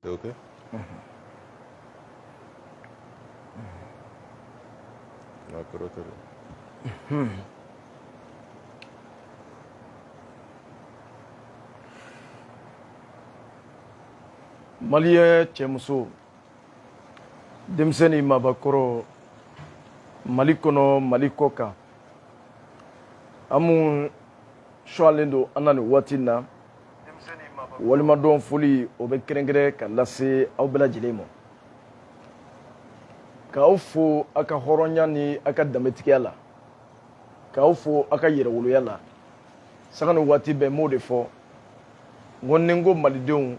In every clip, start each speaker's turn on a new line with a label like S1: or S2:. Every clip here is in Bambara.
S1: Okay. Na
S2: korotor. Maliyɛn cɛ muso denmisɛnnin maabakɔrɔ mali kɔnɔ mali kɔkan aw minnu sulen don an na nin waati na waleɲumandɔn foli o bɛ kɛrɛnkɛrɛn ka lase aw bɛɛ lajɛlen ma k'aw fo aw ka hɔrɔnya ni aw ka danbetigiya la k'aw fo aw ka yɛrɛwoloya la sanga ni waati bɛɛ n b'o de fɔ n ko ni n ko malidenw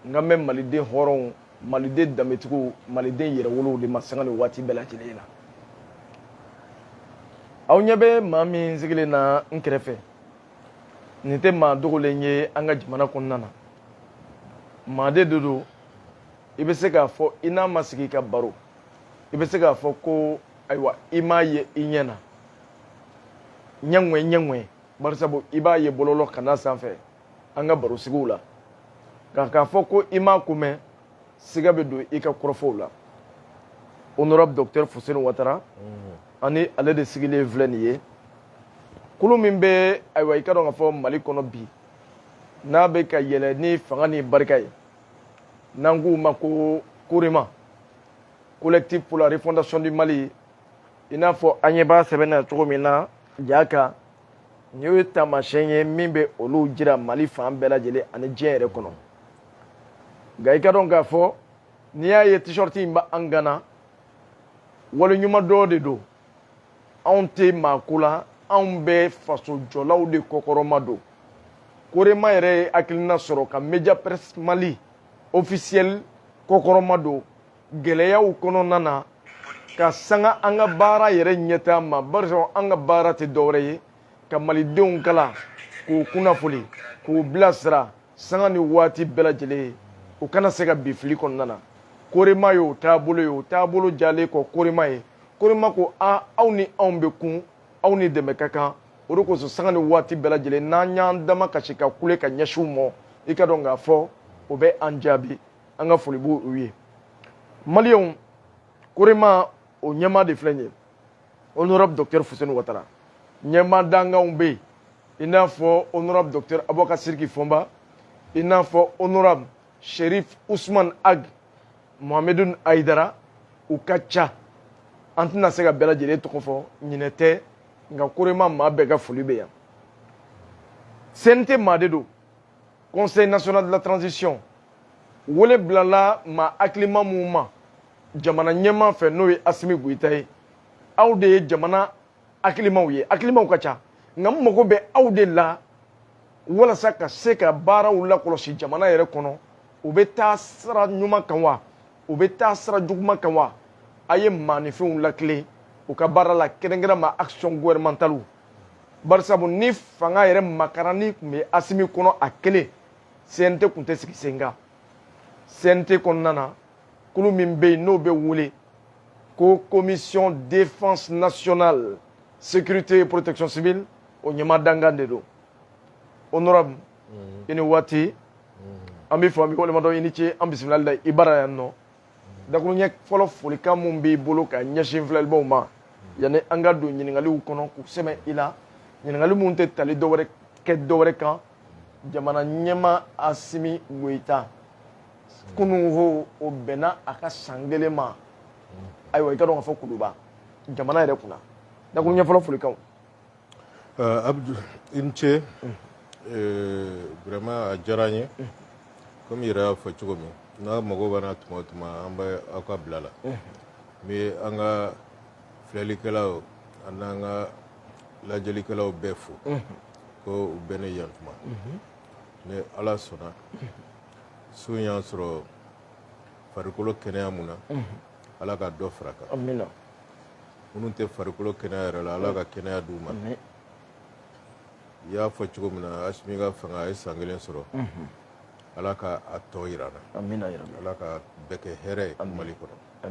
S2: n kan bɛ maliden hɔrɔnw maliden danbetigiw maliden yɛrɛwolow de ma sanga ni waati bɛɛ lajɛlen na aw ɲɛ bɛ maa min sigilen na n kɛrɛfɛ nin tɛ maa dogolen ye an ka jamana kɔnɔna na maaden de don i bɛ se k'a fɔ i n'a ma sigi ka baro i bɛ se k'a fɔ ko ayiwa i m'a ye i ɲɛ na ɲɛŋɛ ɲɛŋɛ barisabu i b'a ye bɔlɔlɔ kanna sanfɛ an ka barosigiw la nka k'a fɔ ko i m'a ko mɛn siga bɛ don i ka kɔrɔfɔw la honorable docteur Fuseni Watara ani ale de sigilen filɛ nin ye kulu min bɛ ayiwa i k'a dɔn k'a fɔ Mali kɔnɔ bi n'a bɛ ka yɛlɛ ni fanga ni barika ye n'an k'u ma ko korema collectif pour la refondation du Mali i n'a fɔ an ɲɛ b'a sɛbɛn na cogo min na ja kan Nin y'o taamasiyɛn ye min bɛ olu jira Mali fan bɛɛ lajɛlen ani diɲɛ yɛrɛ kɔnɔ nka i k'a dɔn k'a fɔ n'i y'a ye t-shirt in bɛ an kan na waleɲumandɔn de don anw tɛ maa ko la anw bɛ faso jɔlaw de kɔkɔrɔmadon korema yɛrɛ ye hakilina sɔrɔ ka media presse mali officiel kɔkɔrɔmadon gɛlɛyaw kɔnɔna na ka sanga an ka baara yɛrɛ ɲɛtaa ma barisa an ka baara tɛ dɔwɛrɛ ye ka malidenw kalan k'u kunnafoni k'u bilasira sanga ni waati bɛɛ lajɛlen ye u kana se ka bin fili kɔnɔna na korema ye o taabolo ye o taabolo diyalen kɔ korema ye korema ko a aw ni anw bɛ kun aw ni dɛmɛ ka kan o de kosɔn sanga ni waati bɛɛ lajɛlen n'an y'an damakasi ka kule ka ɲɛsin u ma i k'a dɔn k'a fɔ o bɛ an jaabi an ka foli b'u ye maliyɛnw korema o ɲɛmaa de filɛ nin ye honorable docteur fuseni watara ɲɛmaa dankanw bɛ yen i n'a fɔ honorable docteur abubakar sidiki fɔnba i n'a fɔ honorable sherif usman ag mohamedun ayidara u ka ca an tɛna se ka bɛɛ lajɛlen tɔgɔ fɔ ɲinɛ tɛ nka korema maa bɛɛ ka foli bɛ yan cnt maa de don conseil national de la transition wele bilala maa hakilima minnu ma jamana ɲɛmaa fɛ n'o ye asimi goyita ye aw de ye jamana hakilimaw ye hakilimaw ka ca nka n mago bɛ aw de la walasa ka se ka baaraw lakɔlɔsi jamana yɛrɛ kɔnɔ u bɛ taa sira ɲuman kan wa u bɛ taa sira juguman kan wa a ye maanifinw latilen u ka baara la kɛrɛnkɛrɛnma action gouvernementale barisabu ni fanga yɛrɛ makaranni tun bɛ asimi kɔnɔ a kelen cnt tun tɛ sigi sen kan cnt kɔnɔna na kulu min bɛ yen n'o bɛ wele ko commission défense nationale sécurité et protection civile o ɲɛmaa dankan de don honorable i ni waati an b'i fo an b'i waleɲumandɔn i ni ce an bisimilali la i bara yan nɔ dakuruɲɛ fɔlɔ folikan min b'i bolo ka ɲɛsin filɛlibaw ma yanni an ka don ɲininkaliw kɔnɔ k'u sɛmɛ i la ɲininkali minnu tɛ tali kɛ dɔwɛrɛ kan jamana ɲɛmaa asimi goyita kunun ho o bɛnna a ka san kelen ma ayiwa i k'a dɔn k'a fɔ kuluba jamana yɛrɛ kunna dakuruɲɛ fɔlɔ folikanw
S1: Euh, Abdou, i ni ce euh, vraiment a diyara n ye komi i yɛrɛ y'a fɔ cogo min n'a mago b'an na tuma o tuma an bɛ aw ka bila la n bɛ an ka filɛlikɛlaw ani an ka lajɛlikɛlaw bɛɛ fo ko u bɛɛ ni yan tuma ni ala sɔnna su in y'an sɔrɔ farikolo kɛnɛya min na ala ka dɔ fara a kan minnu tɛ farikolo kɛnɛya yɛrɛ la ala ka kɛnɛya d'u ma i y'a fɔ cogo min na asimi ka fanga a ye san kelen sɔrɔ ala ka a tɔ jira an na ala ka bɛɛ kɛ hɛrɛ ye mali
S2: kɔnɔ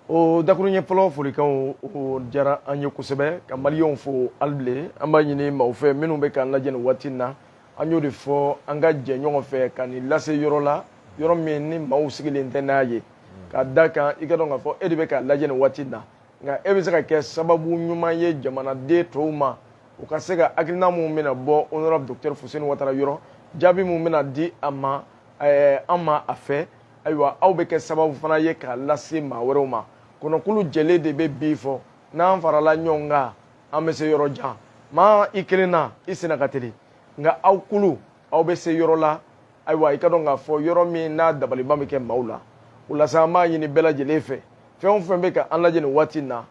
S2: o dakuruɲɛ fɔlɔ folikanw o diyara an ye kosɛbɛ ka maliyɛnw fo hali bilen an b'a ɲini maaw fɛ minnu bɛ k'an lajɛ nin waati in na an y'o de fɔ an ka jɛ ɲɔgɔn fɛ ka nin lase yɔrɔ la yɔrɔ min ni maaw sigilen tɛ n'a ye ka da kan i k'a dɔn k'a fɔ e de bɛ k'a lajɛ nin waati na nka e bɛ se ka kɛ sababu ɲuman ye jamanaden tɔw ma u ka se ka hakilina minnu bɛna bɔ honorable docteur Fuseni Watara yɔrɔ jaabi minnu bɛna di a ma eh, an ma a fɛ ayiwa aw bɛ kɛ sababu fana ye k'a lase maa wɛrɛw ma kɔnɔkulu jɛlen de bɛ bi fɔ n'an farala ɲɔgɔn kan an bɛ se yɔrɔ jan maa i kelen na i senna ka teli nka aw kulu aw bɛ se yɔrɔ la ayiwa i k'a dɔn k'a fɔ yɔrɔ min n'a dabaliban bɛ kɛ maaw la o la sa an b'a ɲini bɛɛ lajɛlen fɛ fɛn o fɛn bɛ ka an lajɛ nin waati in na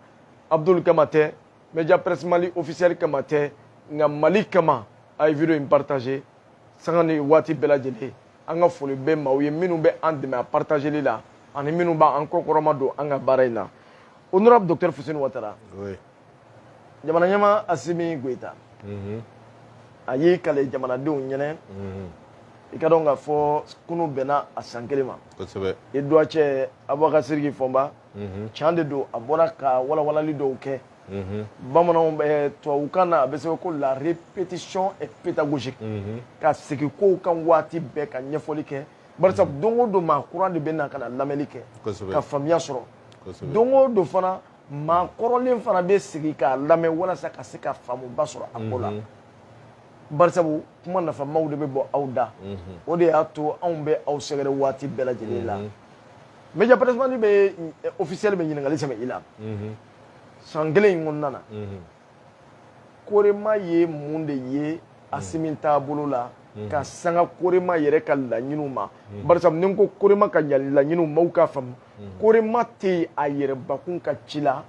S2: abdul kama tɛ media presse mali officiel kama tɛ nka mali kama a ye video in partager sanga ni waati bɛɛ lajɛlen an ka foli bɛ maaw ye minnu bɛ an dɛmɛ a partageli la ani minnu b'an kɔkɔrɔma don an ka baara in na honorable docteur fuseni watara jamana ɲɛmaa asimi goyita mhm. a y'i kale jamanadenw ɲɛnɛ mhm. i k'a dɔn k'a fɔ kunu bɛnna a san kelen ma i dɔgɔcɛ abubakar siriki fɔnba mhm. can de don a bɔra ka walawalali dɔw kɛ bamananw eh, tubabukan na a bɛ sɛbɛn ko la répétition est pédagogique ka segin kow kan waati bɛɛ ka ɲɛfɔli kɛ barisa don o don maa kura de bɛ na ka na lamɛnni kɛ ka faamuya sɔrɔ don o don fana maa kɔrɔlen fana bɛ sigi k'a lamɛn walasa ka se ka faamuba sɔrɔ a ko la barisabu kuma nafamaw de bɛ bɔ aw da o de y'a to anw bɛ aw sɛgɛrɛ waati bɛɛ lajɛlen la media presse mali bɛ officiel bɛ ɲininkali sɛmɛ i la san kelen in kɔnɔna na korema ye mun de ye asimi taabolo la ka sanga korema yɛrɛ ka laɲiniw ma barisa ni n ko korema ka ɲa laɲiniw maaw k'a faamu korema tɛ yen a yɛrɛbakun ka ci la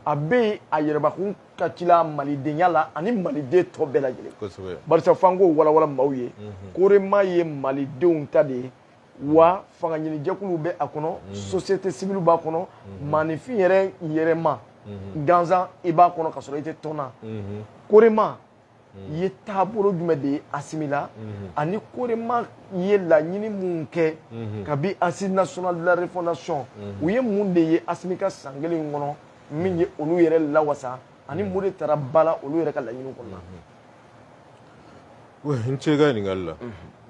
S2: a bɛ yen a yɛrɛbakun ka ci la malidenya la ani maliden tɔ bɛɛ lajɛlen barisa f'an k'o walawala maaw ye korema ye malidenw ta de ye wa fangaɲini jɛkuluw bɛ a kɔnɔ mhm. société civile b'a kɔnɔ mhm. maanifin yɛrɛ yɛrɛma mhm. gansan i b'a kɔnɔ ka sɔrɔ i tɛ tɔn na korema ye taabolo jumɛn de ye asimi la ani korema ye laɲini minnu kɛ kabi assise nationale de la refondation u ye mun de ye asimi ka san kelen in kɔnɔ min ye olu yɛrɛ lawasa ani mun de taara ba la olu yɛrɛ ka laɲini kɔnɔna
S1: n ce ka ɲininkali la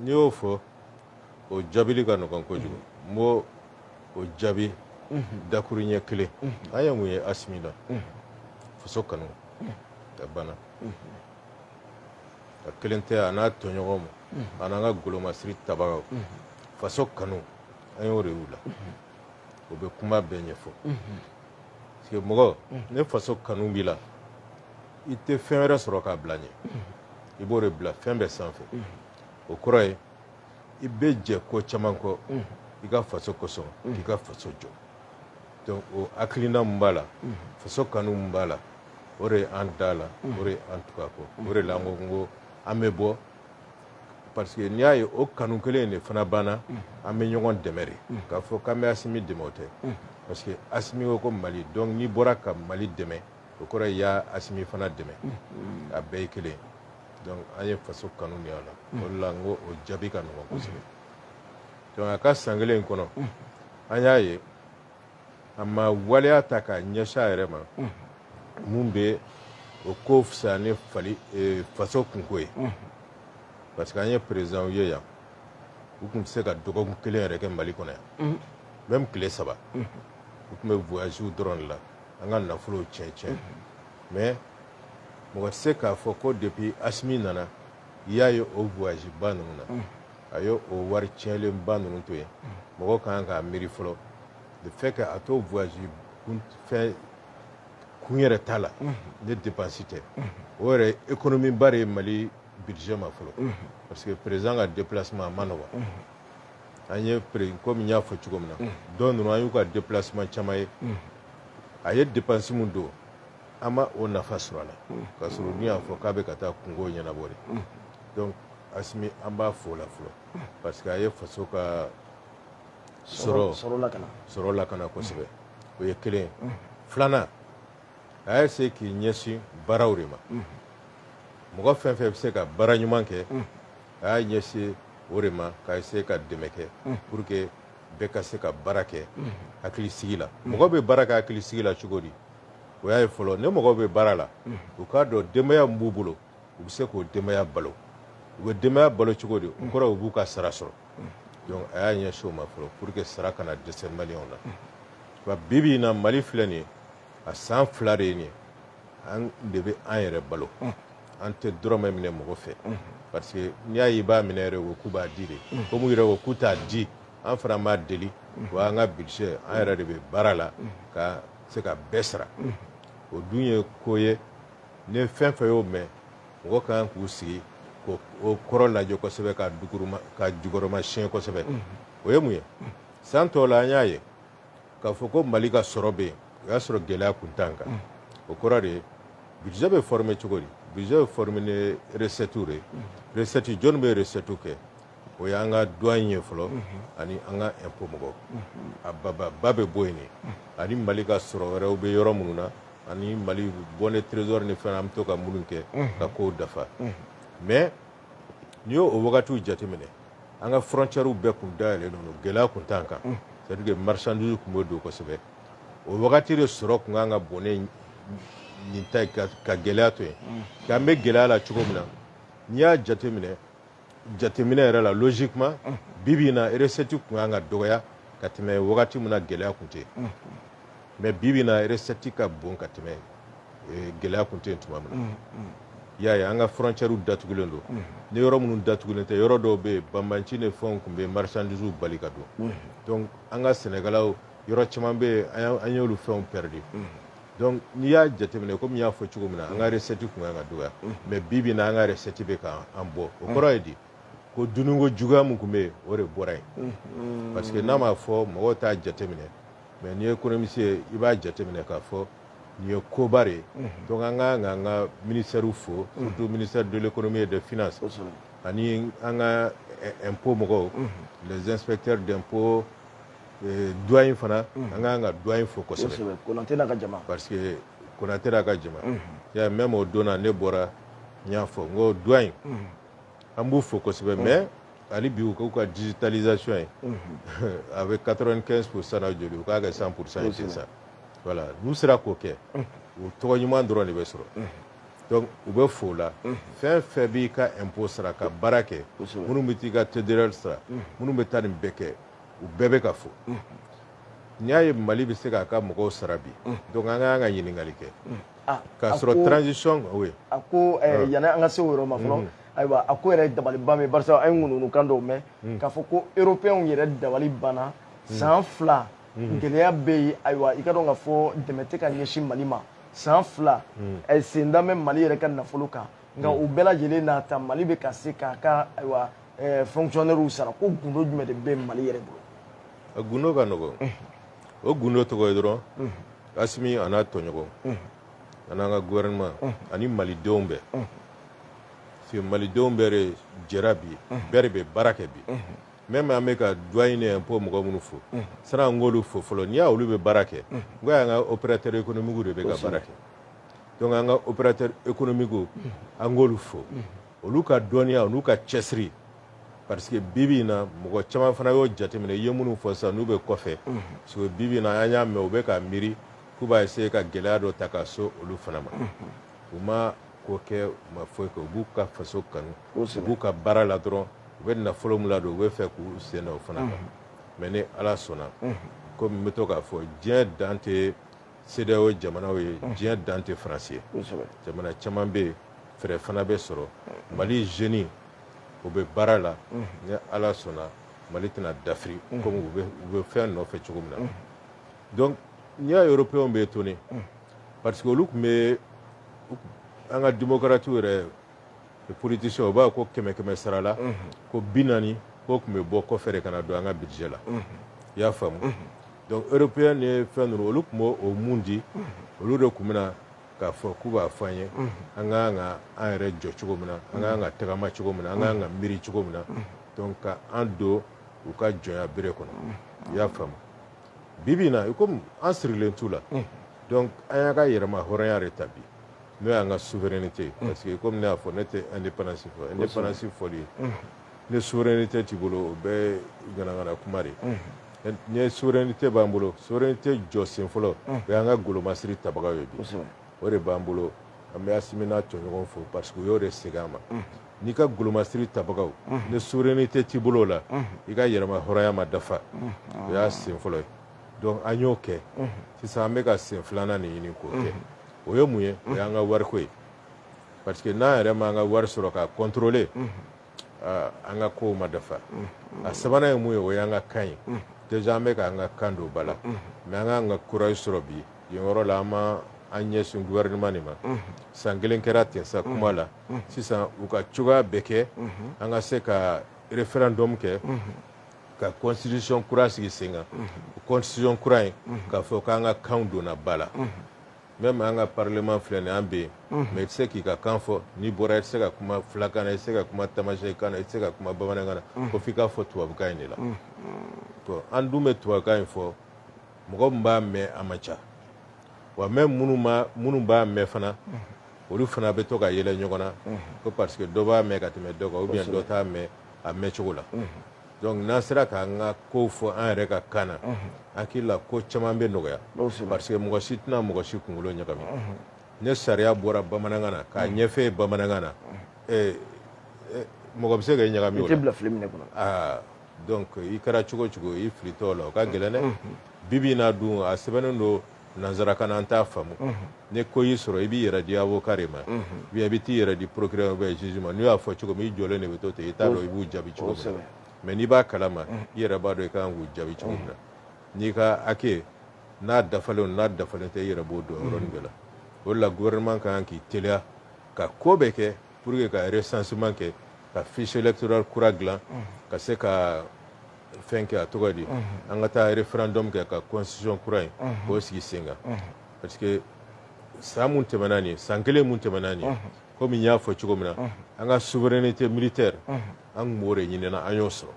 S1: n'i y'o fɔ o jaabili ka nɔgɔn kojugu n b'o jaabi dakuru ɲɛ kelen an ye mun ye asimi la faso kanu a banna a kelen tɛ a n'a tɔɲɔgɔnw a n'an ka golomasiri tabagaw faso kanu an y'o de y'u la o bɛ kuma bɛɛ ɲɛfɔ parce que mɔgɔ ni faso kanu b'i la i tɛ fɛn wɛrɛ sɔrɔ k'a bila ɲɛ i b'o de bila fɛn bɛɛ sanfɛ o kɔrɔ ye i bɛ jɛ ko caman kɔ i ka faso kosɔn k'i ka faso jɔ donc o hakilina min b'a la faso kanu min b'a la o de an da a la o de an tugu a kɔ o de la an ko n ko an bɛ bɔ parce que n'i y'a ye o kanu kelen in de fana b'an na an bɛ ɲɔgɔn dɛmɛ de k'a fɔ k'an bɛ asimi dɛmɛ o tɛ parce que asimi ko ko mali donc n'i bɔra ka mali dɛmɛ o kɔrɔ ye i ye asimi fana dɛmɛ a bɛɛ ye kelen an ye faso kanu de y'a la o de la n ko o jaabi ka nɔgɔn kosɛbɛ donc a ka san kelen in kɔnɔ an y'a ye a ma waleya ta k'a ɲɛsin a yɛrɛ ma min bɛ o ko fisaya ni fali e, faso kunko ye parce que an ye présidentw ye yan u tun tɛ se ka dɔgɔkun kelen yɛrɛ kɛ mali kɔnɔ yan même tile saba u tun bɛ voyagew dɔrɔn de la an ka nafolow tiɲɛ tiɲɛ mais mɔgɔ tɛ se k'a fɔ ko depuis Asimi nana i y'a ye o voyage ba ninnu na a ye o wari tiɲɛlen ba ninnu to yen mɔgɔ ka kan k'a miiri fɔlɔ le fait que a t'o voyage kun fɛn kun yɛrɛ t'a la ni dépense tɛ o yɛrɛ économie ba de ye Mali budget ma fɔlɔ parce que président ka déplacement a man nɔgɔn an ye komi n y'a fɔ cogo min na dɔ ninnu an y'u ka déplacement caman ye a ye dépense min don an ma o nafa sɔrɔ a la ka sɔrɔ a dun y'a fɔ k'a bɛ ka taa kunko ɲɛnabɔ de donc Asimi an b'a fo o la fɔlɔ parce que a ye faso ka sɔrɔ lakana kosɛbɛ o ye kelen ye filanan a y'a essayer k'i ɲɛsin baaraw de ma mɔgɔ fɛn fɛn bɛ se ka baara ɲuman kɛ a y'a ɲɛsin o de ma k'a essayer ka dɛmɛ kɛ pour que bɛɛ ka se ka baara kɛ hakilisigi la mɔgɔ bɛ baara kɛ hakilisigi la cogo di o y'a ye fɔlɔ ni mɔgɔw bɛ baara la u k'a dɔn denbaya b'u bolo u bɛ se k'o denbaya balo u bɛ denbaya balo cogo di o kɔrɔ u b'u ka sara sɔrɔ a y'a ɲɛsin o ma fɔlɔ pour que sara kana dɛsɛ maliyɛnw na wa bibi in na mali filɛ nin ye a san fila de ye nin ye an de bɛ an yɛrɛ balo an tɛ dɔrɔmɛ minɛ mɔgɔ fɛ parce que n'i y'a ye i b'a minɛ yɛrɛ u k'u b'a di de komi yɛrɛ u k'u t'a di an fana m'a deli wa an ka budget an yɛrɛ de bɛ baara la ka se ka bɛɛ sara o dun ye ko ye ni fɛn fɛn y'o mɛn mɔgɔ ka kan k'u sigi k'o kɔrɔ lajɛ kosɛbɛ k'a jukɔrɔma siɲɛ kosɛbɛ o ye mun ye san tɔw la an y'a ye k'a fɔ ko mali ka sɔrɔ bɛ yen o y'a sɔrɔ gɛlɛya kun t'an kan o kɔrɔ de ye budget bɛ former cogo di budget bɛ former ni recette de ye recette jɔni bɛ recette kɛ o y'an ka douane ye fɔlɔ ani an ka impôt mɔgɔ a bababa bɛ bɔ yen de ani mali ka sɔrɔ wɛrɛw bɛ yɔrɔ minnu na ani mali bon de trésor ni fɛn an bɛ to ka minnu kɛ ka kow dafa mais n'i y'o o wagatiw jateminɛ an ka frontières bɛɛ kun dayɛlɛlen don gɛlɛya kun t'an kan c'est à dire que marchandise kun bɛ don kosɛbɛ o wagati de sɔrɔ kun kan ka bonya nin ta ka gɛlɛya to yen k'an bɛ gɛlɛya la cogo min na n'i y'a jateminɛ jateminɛ yɛrɛ la logiquement bi bi in na recette kun kan ka dɔgɔya ka tɛmɛ wagati min na gɛlɛya kun tɛ mais bi bi in na recette ka bon ka tɛmɛ eh, gɛlɛya kun tɛ tuma min na y'a ye an ka frontières datugulen don ni yɔrɔ minnu datugulen tɛ yɔrɔ dɔw bɛ yen banbanci ni fɛnw kun bɛ marchandise bali ka don donc an ka sɛnɛkɛlaw yɔrɔ caman bɛ yen an y'olu fɛnw perdre donc n'i y'a jateminɛ komi n y'a fɔ cogo min na an ka recette kun kan ka dɔgɔya mais bi bi in na an ka recette bɛ ka an bɔ o kɔrɔ ye di ko dunuko juguya min kun bɛ yen o de bɔra yen parce que n'a ma fɔ mɔgɔw t'a jateminɛ mais n'i ye économiste ye i b'a jateminɛ k'a fɔ nin ye koba de ye donc an ka ka an ka ministère fo surtout ministère de l'économie et des finances ani an ka impôt mɔgɔw les inspecteurs d'impôt douane fana an ka kan ka douane fo kosɛbɛ Konate n'a ka
S2: jama parce
S1: que Konate n'a ka jama même o don na ne bɔra n y'a fɔ n ko douane an b'u fo kosɛbɛ mais hali bi u k'u ka digitalisation ye a bɛ quatre-vingt-quinze pour cent joli u k'a kɛ cent pour cent ye sisan voilà n'u sera k'o kɛ u tɔgɔ ɲuman dɔrɔn de bɛ sɔrɔ donc u bɛ fo la fɛn fɛn b'i ka impôt sara ka baara kɛ minnu bɛ taa i ka TDR sara minnu bɛ taa nin bɛɛ kɛ u bɛɛ bɛ ka fo n'i y'a ye mali bɛ se k'a ka mɔgɔw sara bi donc an ka ka ɲininkali kɛ ah, k'a sɔrɔ transition oui a ko eh, ah.
S2: yanni an ka se o yɔrɔ ma fɔlɔ mm. ayiwa a ko yɛrɛ dabaliban bɛ barisa an ye ŋunuŋunukan dɔw mɛn mm. k'a fɔ ko européenw yɛrɛ dabali banna mm. san fila gɛlɛya bɛ yen ayiwa i k'a dɔn k'a fɔ dɛmɛ tɛ ka ɲɛsin mali ma san fila eh, sen da bɛ mali yɛrɛ ka nafolo kan nka o bɛɛ lajɛlen n'a ta mali bɛ ka se k'a ka ayiwa fɔnkisɔnɛriw sara ko gundo jumɛn de bɛ mali yɛrɛ bolo a gundo ka
S1: nɔgɔn o gundo tɔgɔ ye dɔrɔn asimi an'a tɔɲɔgɔn an'an ka gouvernement ani malidenw bɛɛ parce que malidenw bɛɛ de jɛra bi bɛɛ de bɛ baara kɛ bi même an bɛ ka douane ni impôt mɔgɔ minnu fo sanni an k'olu fo fɔlɔ n'i y'a ye olu bɛ baara kɛ n ko y'an ka opérateur économique de bɛ ka baara kɛ donc an ka opérateur économique an k'olu fo olu ka dɔnniya olu ka cɛsiri parce que bibi in na mɔgɔ caman fana y'o jateminɛ i ye minnu fɔ sisan n'u bɛ kɔfɛ parce que bibi in na an y'a mɛn u bɛ ka miiri k'u b'a essayer ka gɛlɛya dɔ ta k'a se olu fana ma u ma ko kɛ u ma foyi kɛ u b'u ka faso kanu u b'u ka baara la dɔrɔn u bɛ nafolo min ladon u b'a fɛ k'u sen da o fana kan mais ni ala sɔnna komi n bɛ to k'a fɔ diɲɛ dan tɛ CEDEAO jamanaw ye diɲɛ dan tɛ France ye jamana caman bɛ yen fɛɛrɛ fana bɛ sɔrɔ Mali jeunes u bɛ baara la ni Ala sɔnna Mali tɛna dafiri komi u bɛ u bɛ fɛn nɔfɛ cogo min na donc n'i y'a ye européens bɛ étonné parce que olu tun bɛ an ka démocrates yɛrɛ Politiciens u b'a fɔ ko kɛmɛ kɛmɛ sara la, unhun, ko bi naani k'o tun bɛ bɔ kɔfɛ de ka na don an ka budget la, unhun, i y'a faamu, unhun, donc européen ni fɛn ninnu olu tun b'o o mun di, unhun, olu de tun bɛna k'a fɔ k'u b'a fɔ an ye, unhun, an ka kan ka an yɛrɛ jɔ cogo min na, an ka kan ka tagama cogo min na, an ka kan ka miiri cogo min na, unhun, donc ka an don u ka jɔnya bere kɔnɔ, unhun, i y'a faamu, bi bi in na i komi an sirilen t'u la, unhun, donc an y'an ka yɛrɛmahɔrɔnya de ta bi n'o y'an ka souveraineté ye parce que comme ne y'a fɔ ne tɛ indépendance fɔ indépendance fɔli ni souveraineté t'i bolo o bɛɛ ye ŋanaŋana kuma de ye ni souveraineté b'an bolo souveraineté jɔsen fɔlɔ o y'an ka golomasiri tabagaw ye bi o de b'an bolo an bɛ Asimi n'a tɔɲɔgɔnw fo parce que u y'o de segin an ma n'i ka golomasiri tabagaw ni souveraineté t'i bolo o la i ka yɛrɛmahɔrɔnya ma dafa o y'a sen fɔlɔ ye donc an y'o kɛ sisan an bɛ ka sen filanan nin ɲini k'o kɛ o ye mun ye o y'an ka wariko ye parce que n'an yɛrɛ m'an ka wari sɔrɔ k'a contrôler an ka kow ma dafa a sabanan ye mun ye o y'an ka kan ye déjà an bɛ k'an ka kan don ba la mais an k'an ka courage sɔrɔ bi yen yɔrɔ la an ma an ɲɛsin gouvernement nin ma san kelen kɛra ten sa kuma la sisan u ka cogoya bɛɛ kɛ an ka se ka référendum kɛ ka constitution kura sigi sen kan constitution kura in k'a fɔ k'an ka kanw donna ba la même an ka parlement filɛ nin an bɛ yen mais i tɛ se k'i ka kan fɔ n'i bɔra i tɛ se ka kuma filakan na i tɛ se ka kuma tamasɛki kan na i tɛ se ka kuma bamanankan na ko f'i k'a fɔ tubabukan in de la bon an dun bɛ tubabukan in fɔ mɔgɔ min b'a mɛn a man ca wa même minnu b'a mɛn fana olu fana bɛ to ka yɛlɛ ɲɔgɔn na ko parce que dɔ b'a mɛn ka tɛmɛ dɔ kan ou bien dɔ t'a mɛn a mɛncogo la donc n'an sera k'an ka kow fɔ an yɛrɛ ka kan na n hakili la ko caman bɛ nɔgɔya parce que mɔgɔ si tɛna mɔgɔ si kunkolo ɲagami ni sariya bɔra bamanankan na k'a ɲɛfɔ i ye bamanankan na mɔgɔ bɛ se k'i ɲagami o la i tɛ bila fili
S2: minɛ kɔnɔ donc i
S1: kɛra cogo o cogo i filitɔ o la o ka gɛlɛn dɛ bi bi in na dun a sɛbɛnnen don nansarakan na an t'a faamu ni ko y'i sɔrɔ i b'i yɛrɛ di avocat de ma i bɛ t'i yɛrɛ di procureur ou bien juge ma n'u y'a fɔ cogo min i jɔlen de bɛ to ten i t'a dɔn i b'u jaabi cogo min na mais n'i b'a kalama i yɛrɛ b'a dɔn i ka kan k'u jaabi cogo min na n'i ka hakɛ n'a dafalen n'a dafalen tɛ i yɛrɛ b'o dɔn yɔrɔnin bɛɛ la o la gouvernement ka kan k'i teliya ka ko bɛɛ kɛ pour que ka recensement kɛ ka fiche électorale kura dilan ka se ka fɛn kɛ a tɔgɔ di an ka taa référendum kɛ ka constitution kura in k'o sigi sen kan parce que san mun tɛmɛna nin san kelen mun tɛmɛna nin komi n y'a fɔ cogo min na an ka souveraineté militaire an kun b'o de ɲinina an y'o sɔrɔ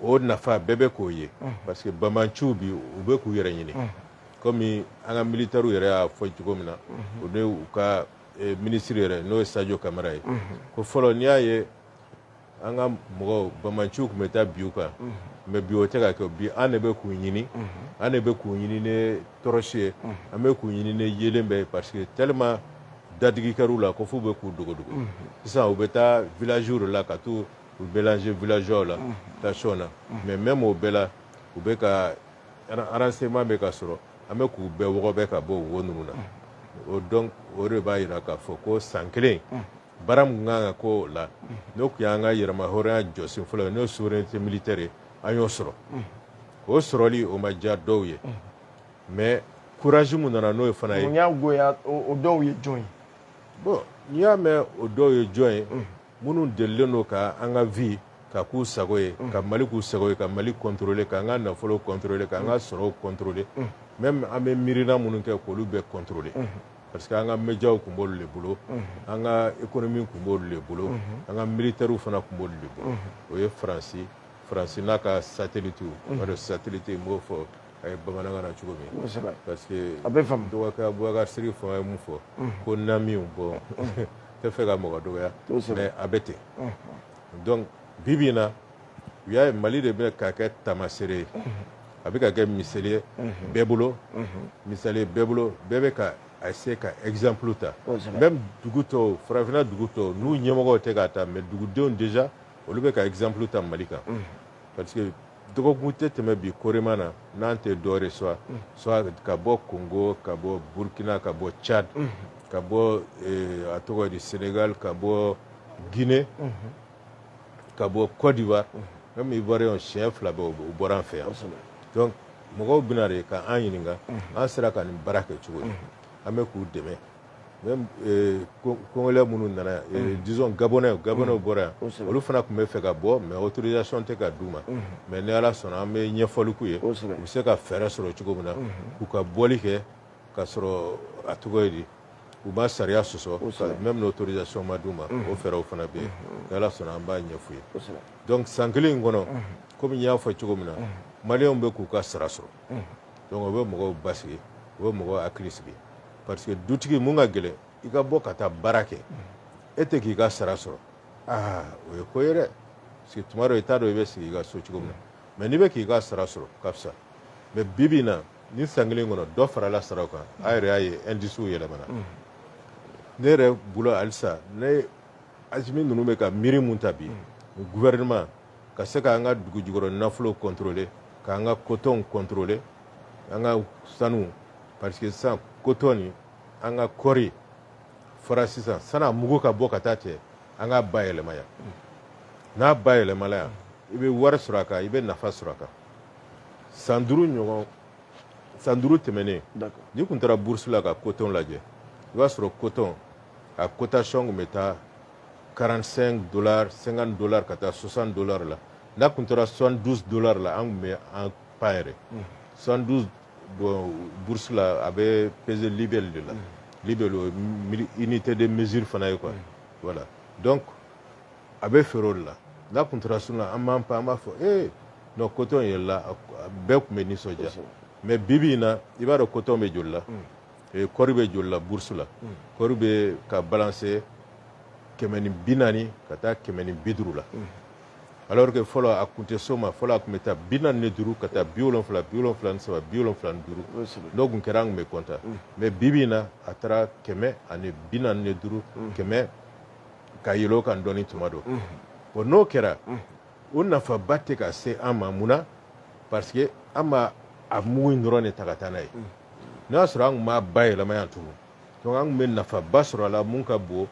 S1: o nafa bɛɛ bɛ k'o ye parce que banbaanciw bi u bɛ k'u yɛrɛ ɲini komi an ka militaires yɛrɛ y'a fɔ cogo min na o ni u ka eh, minisiri yɛrɛ n'o ye sajo kamara ye ko fɔlɔ n'i y'a ye an ka mɔgɔw banbaanciw tun bɛ taa bin u kan mais bi o tɛ ka kɛ bi an de bɛ k'u ɲini an de bɛ k'u ɲini ni tɔrɔsi ye an bɛ k'u ɲini ni yeelen bɛɛ ye parce que tellement dadigi kɛr'u la ko f'u bɛ k'u dogodogo sisan u bɛ taa villagew de la ka t'u u mélanger villageois la tension na mais même o bɛɛ la u bɛ ka renseignement bɛ ka sɔrɔ an bɛ k'u bɛɛ wɔgɔbɛ ka bɔ o wo ninnu na o donc o de b'a jira k'a fɔ ko san kelen baara mun kan ka k'o la n'o tun y'an ka yɛrɛma hɔrɔnya jɔsen fɔlɔ ye n'o souveraineté militaire ye an y'o sɔrɔ o sɔrɔli o ma diya dɔw ye mais kura in mun nana n'o ye fana ye mun y'a goya
S2: o dɔw ye jɔn ye
S1: bon n'i y'a mɛn o dɔw ye jɔn ye minnu delilen don ka an ka vie ka k'u sago ye ka mali k'u sago ye ka mali contrôler k'an ka nafolo contrôler k'an ka sɔrɔw contrôler même an bɛ miirina minnu kɛ k'olu bɛɛ contrôler parce que an ka médiaw tun b'olu de bolo an ka économie tun b'olu de bolo an ka militaires fana tun b'olu de bolo o ye faransi faransi n'a ka satellitew don satellite n b'o fɔ a ye bamanankan na cogo min kosɛbɛ parce que a bɛ faamu
S2: dɔgɔkɛ Boubacar
S1: Siriki Fomba ye mun fɔ ko namiw bon n tɛ fɛ ka mɔgɔ dɔgɔya Kosɛbɛ. mais a bɛ ten donc bi bi in na u y'a ye mali de bɛ ka kɛ tamaseere ye a bɛ ka kɛ misali ye bɛɛ bolo misali ye bɛɛ bolo bɛɛ bɛ ka essayer ka exemple ta même dugu tɔw farafinna dugu tɔw n'u ɲɛmɔgɔw tɛ k'a ta mais dugudenw déjà olu bɛ ka exemple ta mali kan parce que dɔgɔkun tɛ tɛmɛ bi korema na n'an tɛ dɔ de sɔrɔ soit ka bɔ congo ka bɔ burkina ka bɔ tchad ka bɔ a tɔgɔ di senegal ka bɔ guinée ka bɔ Côte d'Ivoire même Ivoirien siɲɛ fila bɛ u bɔra an fɛ yan donc mɔgɔw bɛ na de ka an ɲininka an sera ka nin baara kɛ cogo di an bɛ k'u dɛmɛ même euh, congolais minnu nana yan euh, disons gabonais gabonais bɔra yan olu fana tun bɛ fɛ ka bɔ mais autorisation tɛ ka d'u ma mais ni ala sɔnna an bɛ ɲɛfɔli k'u ye u bɛ se ka fɛɛrɛ sɔrɔ cogo min na k'u ka bɔli kɛ ka sɔrɔ a tɔgɔ di u ma sariya sɔsɔ même n'autorisation ma d'u ma o fɛɛrɛw fana bɛ yen ala sɔnna an b'a ɲɛf'u ye donc san kelen in kɔnɔ kɔmi n y'a fɔ cogo min na maliyɛnw bɛ k'u ka sara sɔrɔ donc o bɛ mɔgɔw basigi o bɛ mɔgɔ hakili sigi parce que dutigi mun ka gɛlɛn i ka bɔ ka taa baara kɛ e tɛ k'i ka sara sɔrɔ aa o ye ko ye dɛ parce que tuma dɔ i t'a dɔn i bɛ sigi i ka so cogo min na mais n'i bɛ k'i ka sara sɔrɔ ka fisa mais bi bi in na ni san kelen kɔnɔ dɔ farala saraw kan a yɛrɛ y'a ye indice yɛlɛmana ne yɛrɛ bolo halisa ne asimi ninnu bɛ ka miiri mun ta bi gouvernement ka se k'an ka dugu jukɔrɔ nafolo contrôler k'an ka coton contrôler an ka sanu parce que sisan coton ni an ka kɔri fara sisan san'a mugu ka bɔ ka taa cɛ an k'a bayɛlɛma yan n'a bayɛlɛmala yan i bɛ wari sɔrɔ a kan i bɛ nafa sɔrɔ a kan san duuru ɲɔgɔn san duuru tɛmɛnen n'i kun taara bourse la ka coton lajɛ i b'a sɔrɔ coton a cotation kun bɛ taa 45 dollars 50 dollars ka taa 60 dollars la n'a kun taara 72 dollars la an kun bɛ an pan yɛrɛ 72 bon bourse la a bɛ peser libɛli de la libɛli o unité de mesure fana ye quoi voilà donc a bɛ feere o de la n'a kun taara sun na an b'an pan an b'a fɔ ee non coton yɛlɛla bɛɛ kun bɛ nisɔndiya mais bi bi in na i b'a dɔn coton bɛ joli la mm. kɔri bɛ joli la bourse la mm. kɔri bɛ ka balancer kɛmɛ ni bi naani ka taa kɛmɛ ni bi duuru la mm. alors que fɔlɔ a kun tɛ s'o ma fɔlɔ a kun bɛ taa bi naani ni duuru ka taa bi wolonfila bi wolonfila ni saba bi wolonfila ni duuru n'o kun kɛra an kun bɛ content mais bi bi in na a taara kɛmɛ ani bi naani ni duuru kɛmɛ ka yɛlɛ o kan dɔɔni tuma dɔ bon n'o kɛra o nafaba tɛ ka se an ma mun na parce que an b'a a mugu in dɔrɔn de ta ka taa n'a ye n'a y'a sɔrɔ an kun b'a bayɛlɛma yan tugun donc an kun bɛ nafaba sɔrɔ a la mun ka bon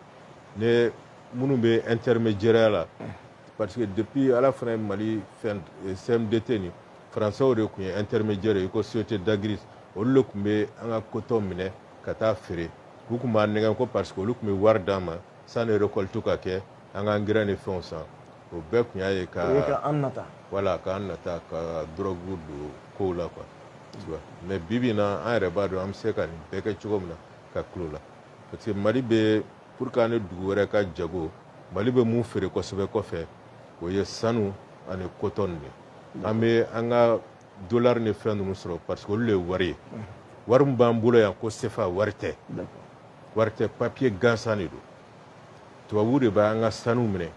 S1: ne minnu bɛ intermédiaire la parce que depuis ala fana ye mali fɛn eh, cmdt ni faransɛw de kun ye intermédiaire ye ko société dagris olu de kun bɛ an ka coton minɛ ka taa feere u kun b'an nɛgɛn ko parce que olu kun bɛ wari d'an ma sanni récolte ka kɛ an ka engrais ni fɛnw san o bɛɛ kun y'a ye ka o ye ka an nata
S2: voilà k'an nata
S1: ka drogue don kow la quoi tu vois mais bi bi in na an yɛrɛ b'a dɔn an bɛ se ka nin bɛɛ kɛ cogo min na ka tulo la parce que mali bɛ pour que an ni dugu wɛrɛ ka jago mali bɛ mun feere kosɛbɛ kɔfɛ o ye sanu ani coton de ye an bɛ an ka dollars ni fɛn ninnu sɔrɔ parce que olu de ye wari ye wari min b'an bolo yan ko sefa wari tɛ wari tɛ papiye gansan de don tubabuw de b'an ka sanu minɛ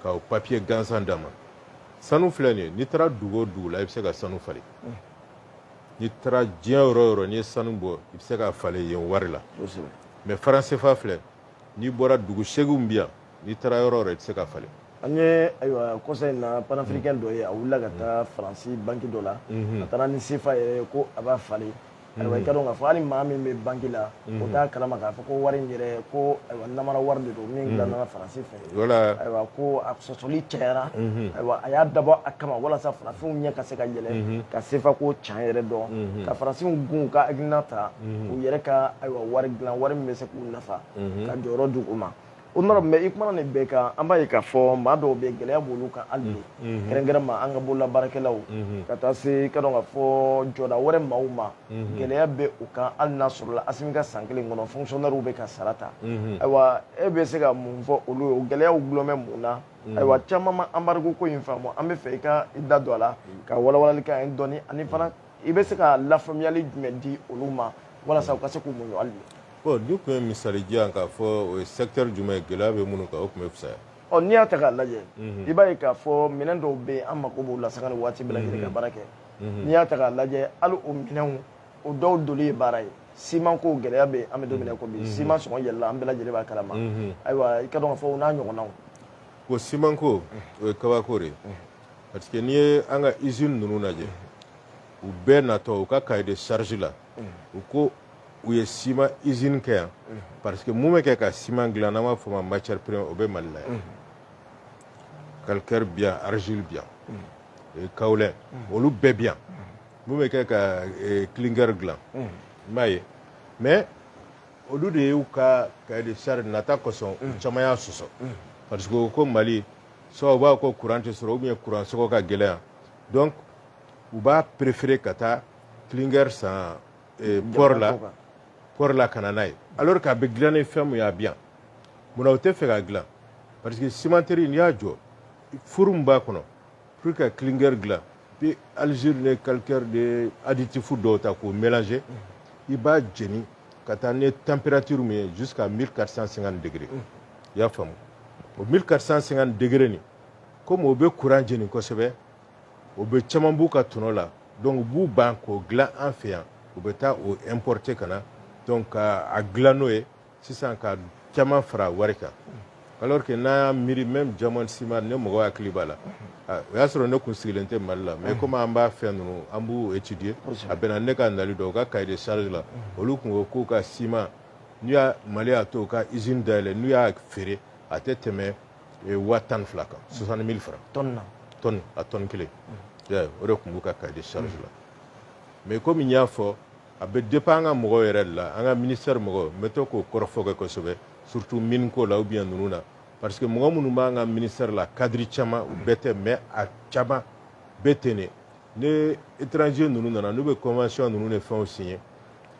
S1: ka o papiye gansan d'an ma sanu filɛ nin ye n'i taara dugu o dugu la i bɛ se ka sanu falen n'i taara diɲɛ yɔrɔ o yɔrɔ n'i ye sanu bɔ i bɛ se k'a falen yen wari la mais franc sefa filɛ n'i bɔra dugu seegin bi yan n'i taara yɔrɔ wɛrɛ i tɛ se k'a falen an ye
S2: ayiwa kɔsa in na panafricain dɔ ye a wulila ka taa faransi banki dɔ la mhm. a taara ni sefa yɛrɛ ye ko a b'a falen mhm. ayiwa i k'a dɔn k'a fɔ hali maa min bɛ banki la o mhm. t'a kalama k'a fɔ ko wari in yɛrɛ ko ayiwa namara wari de don min dilanna faransi fɛ ayiwa ko a sɔsɔli cayara ayiwa a y'a dabɔ a kama walasa farafinw ɲɛ ka se ka yɛlɛ ka sefa ko can yɛrɛ dɔn ka farafinw gun ka hakilina ta u yɛrɛ ka ayiwa wari dilan wari min bɛ se k'u nafa ka jɔyɔrɔ di u ma honorable i kumana nin bɛɛ kan an b'a ye k'a fɔ maa dɔw bɛ gɛlɛya b'olu kan hali bi kɛrɛnkɛrɛn ma an ka bololabaarakɛlaw ka taa se k'a dɔn k'a fɔ jɔda wɛrɛ maaw ma gɛlɛya bɛ u kan hali n'a sɔrɔla asimi ka san kelen kɔnɔ fonctionnaires bɛ ka sara ta ayiwa e bɛ se ka mun fɔ olu ye o gɛlɛyaw dulomɛ mun na ayiwa caman ma embargo ko in faamu an bɛ fɛ i ka i da don a la ka walawalali kɛ an ye dɔɔni ani fana i bɛ se ka lafaamuyali jumɛn di olu ma walasa u ka se k'u muɲu hali bi bon n'i tun ye
S1: misali di yan k'a fɔ o ye secteur jumɛn ye gɛlɛya bɛ minnu kan o tun bɛ fisaya ɔ n'i y'a ta k'a lajɛ
S2: mhm. i b'a ye k'a fɔ minɛn dɔw bɛ yen an mako b'u la sanga ni waati bɛɛ lajɛlen ka mhm. baara kɛ mhm. n'i y'a ta k'a lajɛ hali o minɛnw o dɔw donli ye baara ye siman ko gɛlɛya bɛ yen an bɛ don min na ko bi siman sɔngɔ yɛlɛla an bɛɛ lajɛlen b'a kalama ayiwa i k'a dɔn k'a fɔ o n'a ɲɔgɔnnaw ko siman
S1: ko o ye kabako de ye parce que n'i ye an ka usine ninnu lajɛ u bɛɛ natɔ u ka cahier de charge la u ko u ye siman usine kɛ yan parce que mun bɛ kɛ ka siman dilan n'an b'a fɔ a ma matière première o bɛ mali la yan calcaire bi yan argile bi yan eh, kaolin olu bɛɛ bi yan min bɛ kɛ ka eh, clinker dilan i m'a ye mais olu de y'u ka cahier de charge nata kosɔn u caman y'a sɔsɔ parce que ko mali soit u b'a fɔ ko courant tɛ sɔrɔ ou bien courant sɔngɔ ka gɛlɛn yan donc u b'a préférer ka taa clinker san eh, port la port la ka na n'a ye alors que a bɛ dilan ni fɛn min ye a bi yan munna u tɛ fɛ k'a dilan parce que cimenterie n'i y'a jɔ four min b'a kɔnɔ Pour ka clinker dilan i bɛ argile ni calcaire de additif dɔw ta k'o mélanger i b'a jeni ka taa ni température min ye jusqu'à 1450 degrés i y'a faamu o 1450 degrés nin comme o bɛ courant jeni kosɛbɛ o bɛ caman b'u ka tɔnɔ la donc u b'u ban k'o dilan an fɛ yan u bɛ taa o importer ka na donc k'a dilan n'o ye sisan ka caman fara wari kan alors que n'an y'a miiri même Diamond Ciment ni mɔgɔ hakili b'a la ah, o y'a sɔrɔ ne kun sigilen tɛ Mali la mais comme an b'a fɛn ninnu an b'u étudier a bɛnna ne ka nali dɔ u ka cahier de charge la olu kun ko k'u ka siman n'u y'a Mali y'a to u ka usine dayɛlɛ n'u y'a feere a tɛ tɛmɛ eh, waa tan ni fila kan soixante mille francs tɔnni na tɔnni a tɔnni kelen o de kun b'u ka cahier de charge la mais comme n y'a fɔ a bɛ depend an ka mɔgɔw yɛrɛ de la an ka ministère mɔgɔw n bɛ to k'o kɔrɔfɔ kɛ kosɛbɛ surtout mine ko la ou bien ninnu na parce que mɔgɔ minnu b'an ka ministère la cadre caman u bɛɛ tɛ mais a caman bɛ ten de ni étranger ninnu nana n'u bɛ convention ninnu ni fɛnw signé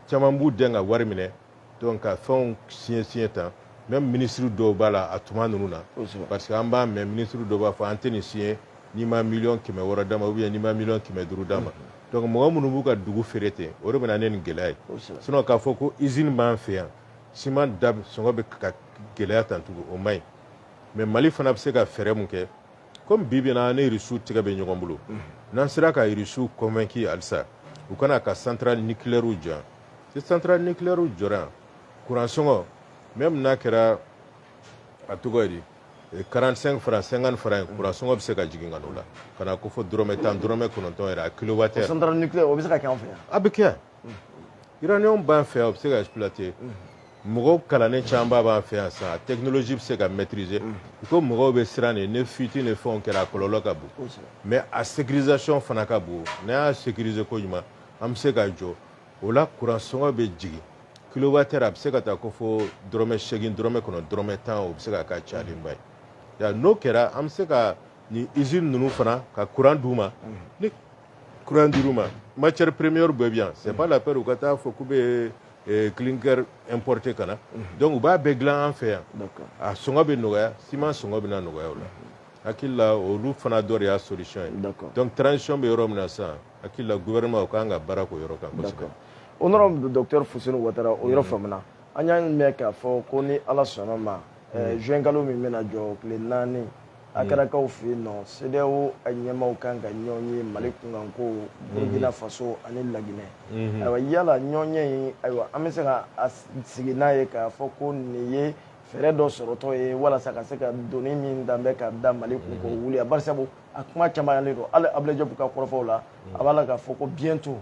S1: caman b'u dɛn ka wari minɛ donc ka fɛnw siɲɛ siɲɛ tan même minisiri dɔw b'a la a tuma ninnu na parce que an b'a mɛn minisiri dɔw b'a fɔ an tɛ nin siɲɛ n'i ma miliyɔn kɛmɛ wɔɔrɔ d'an ma ou bien n'i ma miliyɔn kɛmɛ duuru d'an ma donc mɔgɔ minnu b'u ka dugu feere ten o de bɛ na ni nin gɛlɛya ye sinon k'a fɔ ko usine b'an fɛ yan siman da sɔngɔ bɛ ka gɛlɛya tan tugun o man ɲi mais mali fana bɛ se ka fɛɛrɛ mun kɛ kɔmi bi bi in na an ni irisiw tɛgɛ bɛ ɲɔgɔn bolo n'an sera ka irisiw convaincre alisa u ka na ka centrale nucléaire jɔ yan ni centrale nucléaire jɔra yan kuran sɔngɔ même n'a kɛra a tɔgɔ ye di 45 francs 50 francs kuran sɔngɔ bɛ se ka jigin ka n'o la ka na ko fo dɔrɔmɛ tan dɔrɔmɛ kɔnɔntɔn yɛrɛ a kilowatɛri centrale nucléaire o bɛ se ka kɛ
S2: an fɛ yan a bɛ kɛ yan
S1: uranium b'an fɛ yan o bɛ se ka exploiter mɔgɔw kalannen caman b'an fɛ yan sa technologie bɛ se ka maîtriser ko mɔgɔw bɛ siran de ni fuite ni fɛnw kɛra a kɔlɔlɔ ka bon mais a sécurisation fana ka bon n'an y'a sécuriser ko ɲuman an bɛ se k'a jɔ o la courant sɔngɔ bɛ jigin kilowatɛri a bɛ se ka taa ko fo dɔrɔmɛ seegin dɔrɔmɛ kɔnɔntɔn dɔrɔmɛ tan o bɛ se ka k'a cayalenba ye yan n'o kɛra an bɛ se ka nin usine ninnu fana ka courant d'u ma ni kuran dir'u ma matière première bɛɛ bɛ yan c'est pas la peine u ka taa fɔ k'u bɛ eh, clinker importer ka na donc u b'a bɛɛ dilan an fɛ yan a sɔngɔ bɛ nɔgɔya siman sɔngɔ bɛna nɔgɔya o la hakili la olu fana dɔ de y'a solution ye donc transition bɛ yɔrɔ min na sisan hakili la gouvernement u ka kan ka baara k'o yɔrɔ kan kosɛbɛ honorable
S2: docteur fuseni watara o yɔrɔ faamuna an y'a mɛn k'a fɔ ko ni ala sɔnna ma eh, juin kalo min bɛna jɔ tile naani Akarakaw fɛ yen nɔ CEDEAO ɲɛmaaw kan ka ɲɔn ye mali kunkanko burukina faso ani laginɛ ayiwa yala ɲɔnye in ayiwa an bɛ se ka sigi n'a ye k'a fɔ ko nin ye fɛɛrɛ dɔ sɔrɔtɔ ye walasa ka se ka doni min talen bɛ ka da mali kun k'o wuli barisabu a kuma cayalen don hali Ablaye Diop ka kɔrɔfɔw la a b'a la k'a fɔ ko bientôt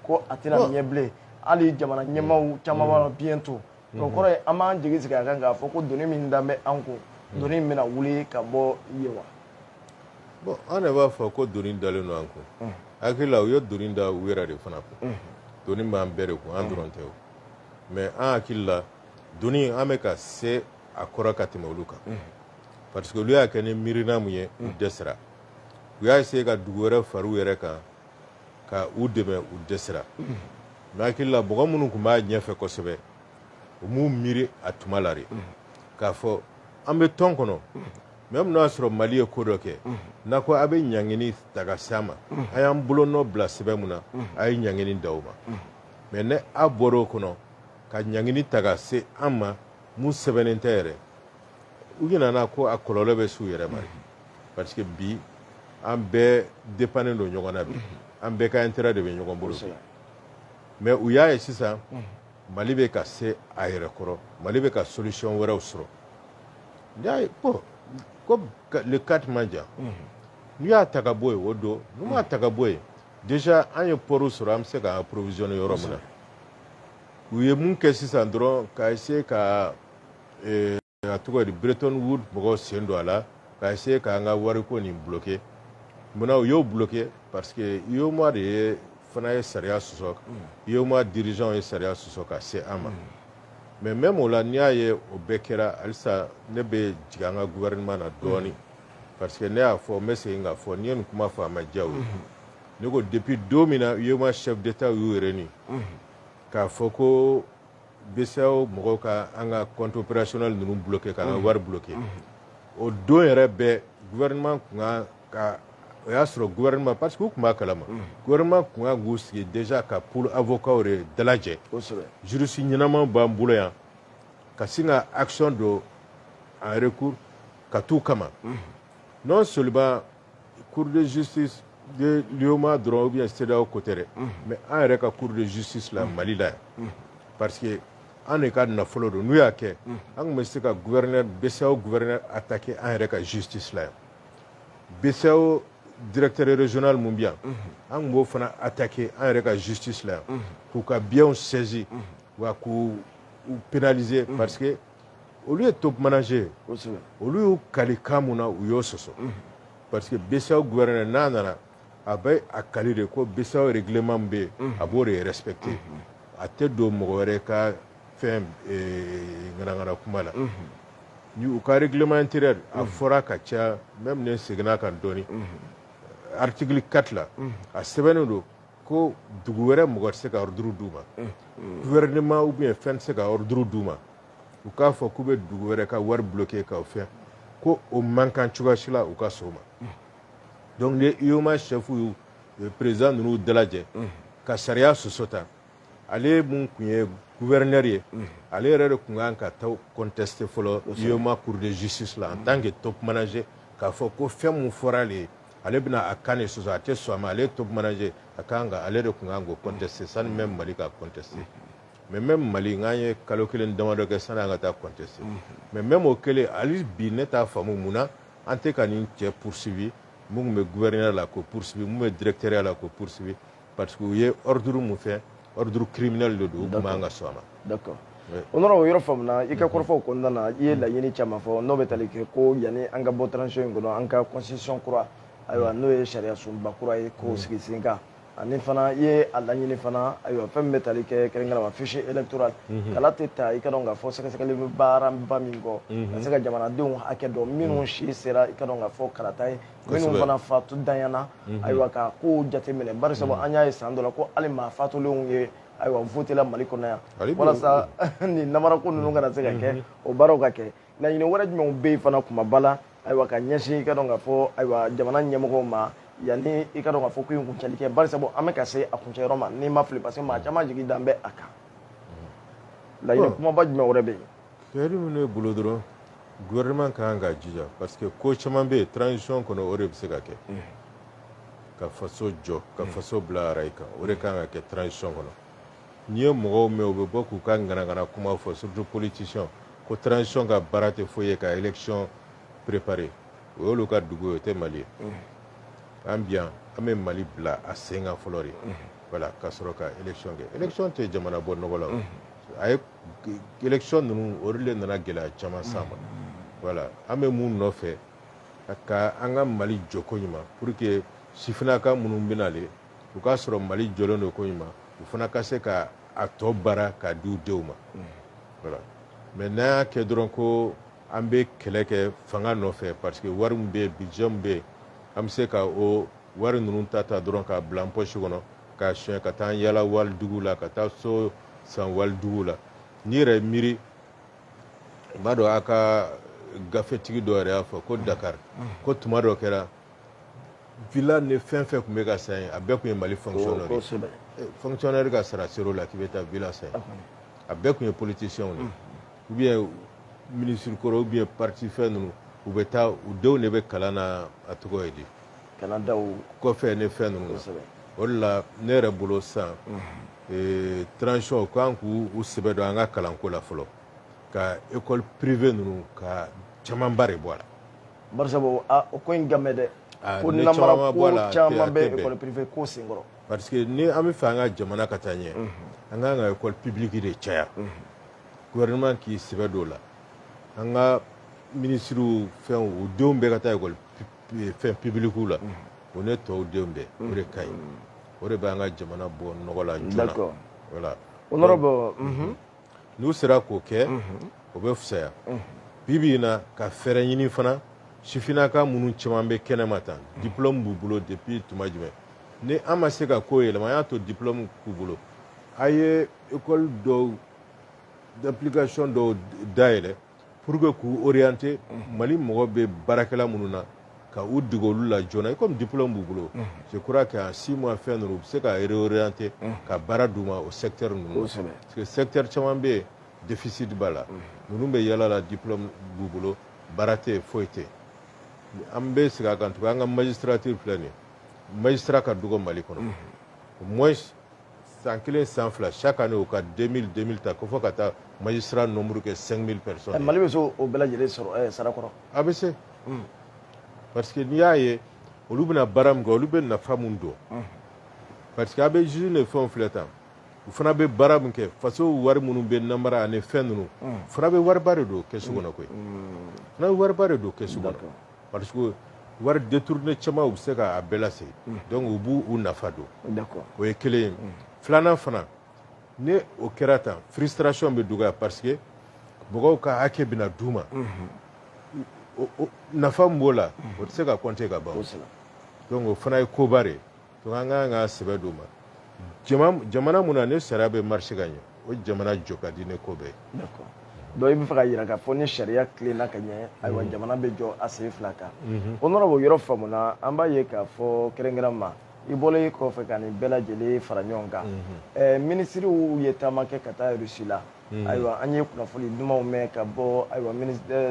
S2: ko a tɛna mɛɛn bilen hali jamana ɲɛmaa caman bientôt o kɔrɔ ye an b'an jigi sigi a kan k'a fɔ ko doni min dan bɛ an kun doni in bɛna wuli ka bɔ yen wa bon
S1: an de b'a fɔ ko doni dalen don an kun hakili la u ye doni da u yɛrɛ de fana kun doni b'an bɛɛ de kun an dɔrɔn tɛ o mais an hakili la doni an bɛ ka se a kɔrɔ ka tɛmɛ olu kan parce que olu y'a kɛ ni miirina mun ye u dɛsɛra u y'a essayer ka dugu wɛrɛ fara u yɛrɛ kan ka u dɛmɛ u dɛsɛra mais hakili la mɔgɔ minnu tun b'a ɲɛfɛ kosɛbɛ u m'u miiri a tuma la de k'a fɔ an bɛ tɔn kɔnɔ même n'a y'a sɔrɔ mali ye ko dɔ kɛ n'a ko a bɛ ɲangini ta ka se a ma an y'an bolonɔ bila sɛbɛn min na a ye ɲangini da o ma mais ni a bɔra o kɔnɔ ka ɲangini ta ka se an ma mun sɛbɛnnen tɛ yɛrɛ u ɲinana ko a kɔlɔlɔ bɛ s'u yɛrɛ ma parce que bi an bɛɛ dépannen don ɲɔgɔn na bi an bɛɛ ka intérêt de bɛ ɲɔgɔn bolo mais u y'a ye sisan mali bɛ ka se a yɛrɛ kɔrɔ mali bɛ ka solution wɛrɛw sɔrɔ n y'a ye bon ko le 4 man jan n'u y'a ta ka bɔ yen o don n'u m'a ta ka bɔ yen déjà an ye portw sɔrɔ an bɛ se k'an approvisionner yɔrɔ min na u ye mun kɛ sisan dɔrɔn ka essayer ka eh, A tɔgɔ di Bretton Woods mɔgɔw sen don a la ka essayer ka an ka wariko nin bloquer munna u y'o bloquer parce que UEMOA de ye fana ye sariya sɔsɔ UEMOA dirigeants ye sariya sɔsɔ ka se an ma mais même o la n'i y'a ye o bɛɛ kɛra halisa ne bɛ jigin an ka gouvernement na dɔɔnin parce que ne y'a fɔ n bɛ segin k'a fɔ n'i ye nin kuma fɔ a ma diya u ye ne ko depuis don min na UEMOA chef d'Etat y'u réuni k'a fɔ ko Bisa mɔgɔw ka an ka kɔntopererasɔnna ninnu bulon kɛ ka wari bulon kɛ o don yɛrɛ bɛɛ guma tun ka o y'a sɔrɔ guma pa que tun b'a kalama gma tun ka k'u sigi de ka p a fɔkaw de dala lajɛjjurusi ɲɛnama b'an bolo yan ka sin ka akiy don are ka taa u kama n' soba kurudzsi ma dɔrɔn bɛ se kotɛ mɛ an yɛrɛ ka kurudzsi mali la yan pa an de ka nafolo don n'u y'a kɛ an tun bɛ se ka gɛ dɛsɛ gɛ a ta kɛ an yɛrɛ ka zutisi yan dɛsɛ o dɛrɛtere zona min bɛ yan an tun b'o fana a ta kɛ an yɛrɛ ka zutisi yan k'u ka biyanw sinsin wa k'u u pze pa olu ye top manager olu y'u kali kan mun na u y'o sɔsɔ parce que BCEAO gouverneur n'a nana a bɛ a kali de ko BCEAO règlement min bɛ yen a b'o de respecter a tɛ don mɔgɔ wɛrɛ ka fɛn ŋanaŋana kuma la ni u ka règlement intérieur a fɔra ka caya même ne seginna kan dɔɔni article 4 la a sɛbɛnnen don ko dugu wɛrɛ mɔgɔ se ka duuru d' u ma wɛrɛ ni ma u bɛ fɛn se ka duuru d' u ma u k'a fɔ k'u bɛ dugu wɛrɛ ka wari bulon kɛ k'aw fɛ ko o man kan cogoyasila u ka so ma dɔnku i ma shɛfu ye perez ninnu dalajɛ ka sariya sososɔta ale minnu tun ye gu wɛrɛɛ ye ale yɛrɛ de tun kan ka taa kɔnte fɔlɔ ma kurudzsi la an tan kɛ to manaze k'a fɔ ko fɛn min fɔra de ye ale bɛna a kan de sɔsɔ a tɛ sɔn a ma ale top manager a kan ka ale de tun kan k'o contester sani même mali ka contester mais même mali nk'an ye kalo kelen damadɔ kɛ sani an ka taa contester mais même o kɛlen hali bi ne t'a faamu mun na an tɛ ka nin cɛ poursuivi mun tun bɛ gouverneur la k'o poursuivi mun bɛ directeurya la k'o poursuivi Parce que u ye ordre min fɛ ordre criminel de don u tun man ka sɔn a ma
S2: honorable o yɔrɔ faamuna i ka kɔrɔfɔw kɔnɔna na i ye laɲini caman fɔ n'o bɛ tali kɛ ko yanni an ka bɔ transition in kɔnɔ an ka constitution kura ayiwa n'o ye sariya sunba kura ye k'o sigi sen kan ani fana i ye a laɲini fana ayiwa fɛn min bɛ tali kɛ kɛrɛnkɛrɛnma fichier électoral kala tɛ ta i ka dɔn k'a fɔ sɛgɛsɛgɛli bɛ baaraba min kɔ ka se ka jamanadenw hakɛ dɔn minnu si sera i ka dɔn k'a fɔ kalata ye minnu Kosɛbɛ. fana fatu danyana Mhm. ayiwa ka kow jateminɛ bari sabu Mhm. an y'a ye san dɔ la ko hali maa fatulenw ye ayiwa voté la mali kɔnɔ yan Hali bi- walasa nin namara ko ninnu kana se ka kɛ Mhm. o baaraw ka kɛ laɲini wɛrɛ jumɛnw bɛ yen fana kumaba la ayiwa ka ɲɛsin i ka dɔn k'a fɔ ayiwa jamana ɲɛmɔgɔw ma yanni i ka dɔn k'a fɔ ko in kuncɛli kɛ bari sabu an bɛ ka se a kuncɛ yɔrɔ ma ni n ma fili parce que maa caman jigi dalen bɛ a kan laɲini Bon. kumaba jumɛn wɛrɛ bɛ yen Fɛɛrɛ min ye n
S1: bolo dɔrɔn gouvernement ka kan ka jija parce que ko caman bɛ yen transition kɔnɔ o de bɛ se ka kɛ ka faso jɔ ka faso bila rail kan o de kan ka kɛ transition kɔnɔ n'i ye mɔgɔw mɛn u bɛ bɔ k'u ka ŋanaŋana kuma fɔ surtout politicien ko transition ka baara tɛ foyi ye ka élection préparer o y'olu ka dugu ye o tɛ mali ye an bi yan an bɛ mali bila a sen kan fɔlɔ de voilà ka sɔrɔ ka élection kɛ élection tɛ jamana bɔ nɔgɔ la élection ninnu o de nana gɛlɛya caman s'a ma voilà an bɛ mun nɔfɛ ka an ka mali jɔ ko ɲuman pour que sifinnaka minnu bɛ na le u k'a sɔrɔ mali jɔlen don ko ɲuman u fana ka se ka a tɔ baara k'a di u denw ma voilà mais n'an y'a kɛ dɔrɔn ko an bɛ kɛlɛ kɛ fanga nɔfɛ parce que wari min bɛ yen budget min bɛ yen an bɛ se ka o wari ninnu ta ta dɔrɔn k'a bila an poche kɔnɔ k'a sonyɛ ka taa an yala walidugu la ka taa so san walidugu la n'i yɛrɛ miiri i b'a dɔn a ka gafetigi dɔ yɛrɛ y'a fɔ ko dakari ko tuma dɔ kɛra villa ni fɛn fɛn tun bɛ ka san yen a bɛɛ tun ye mali fonctionnaire ye eh, fonctionnaire ka sara ser'o la k'i bɛ taa villa san a bɛɛ tun ye politicienw de ou bien minisiri kɔrɔ ou bien parti fɛn ninnu u bɛ taa u denw de bɛ kalan na a tɔgɔ ye di kana
S2: da kɔfɛ ni fɛn
S1: ninnu o de la ne yɛrɛ bolo sisan transition kan k'u sɛbɛ don an ka kalanko la fɔlɔ ka école privée ninnu ka camanba de bɔ a la o
S2: ko in game dɛ ko caman bɛ école privée ko senkɔrɔ parce que ni an
S1: bɛ fɛ an ka jamana ka taa ɲɛ an ka kan ka école publique de caya gouvernement k'i sɛbɛ don o la an ka minisiriw fɛn u denw bɛɛ ka taa fɛn publique la u ni tɔw denw bɛɛ o de ka ɲi o de b'an ka jamana bɔ nɔgɔ la joona voilà honorable n'u sera k'o kɛ o bɛ fisaya bi bi in na ka fɛɛrɛ ɲini fana sifinna ka minnu caman bɛ kɛnɛ ma tan diplôme b'u bolo depuis tuma jumɛn ni an ma se ka ko yɛlɛma an y'a to diplôme k'u bolo a ye école dɔw d'application dɔw dayɛlɛ Pur que k'u ote mali mɔgɔ bɛ baarakɛla minnu na ka u dugu olu la jɔn i kɔni dip b'u bolo se kura kɛ a si ma fɛn ninnu u bɛ se ka yɛrɛreoyte ka baara d u ma o sɛri ninnu sɛri caman bɛ yen defisi b'a la ninnu bɛ yalala dip b'u bolo baara tɛ foyi tɛ an bɛ sigi a kan tugun an ka maji sirati filɛ nin maji sira ka dugawu mali kɔnɔ o mɔ san kelen san fila chaque année u ka deux cents deux cents ta ko fo ka taa magistrat nombre kɛ cinq mille personnes mali bɛ se o bɛɛ lajɛlen
S2: sɔrɔ sara kɔrɔ a bɛ se
S1: parce que n'i y'a ye olu bɛna baara min kɛ olu bɛ nafa min don parce que a bɛ usine ni fɛnw filɛ tan u fana bɛ baara min kɛ faso wari minnu bɛ namara ani fɛn ninnu fana bɛ wariba de don kɛsu kɔnɔ koyi fana bɛ wariba de don kɛsu kɔnɔ parce que wari détourné caman u bɛ se k'a bɛɛ lase donc u b'u u nafa don d'accord o ye kelen ye filanan fana ni o kɛra tan frustration bɛ dɔgɔya parce que mɔgɔw ka hakɛ bɛna d'u ma o- o- nafa min b'o la o tɛ se ka compter ka ban o. donc o fana ye koba de ye donc an ka kan ka sɛbɛ d'o ma jamana min na ni sariya bɛ marcher ka ɲɛ o jamana jɔ ka di ni ko bɛɛ ye donc i bɛ fɛ ka
S2: jira k'a fɔ ni sariya tilenna ka ɲɛ ayiwa jamana bɛ jɔ a sen fila kan honorable o yɔrɔ faamuna an b'a ye k'a fɔ kɛrɛnkɛrɛn ma i bɔlen kɔfɛ ka nin bɛɛ lajɛlen fara ɲɔgɔn kan minisiriw ye taama kɛ ka taa rusi la ayiwa an ye kunnafoni dumanw mɛn ka bɔ ayiwa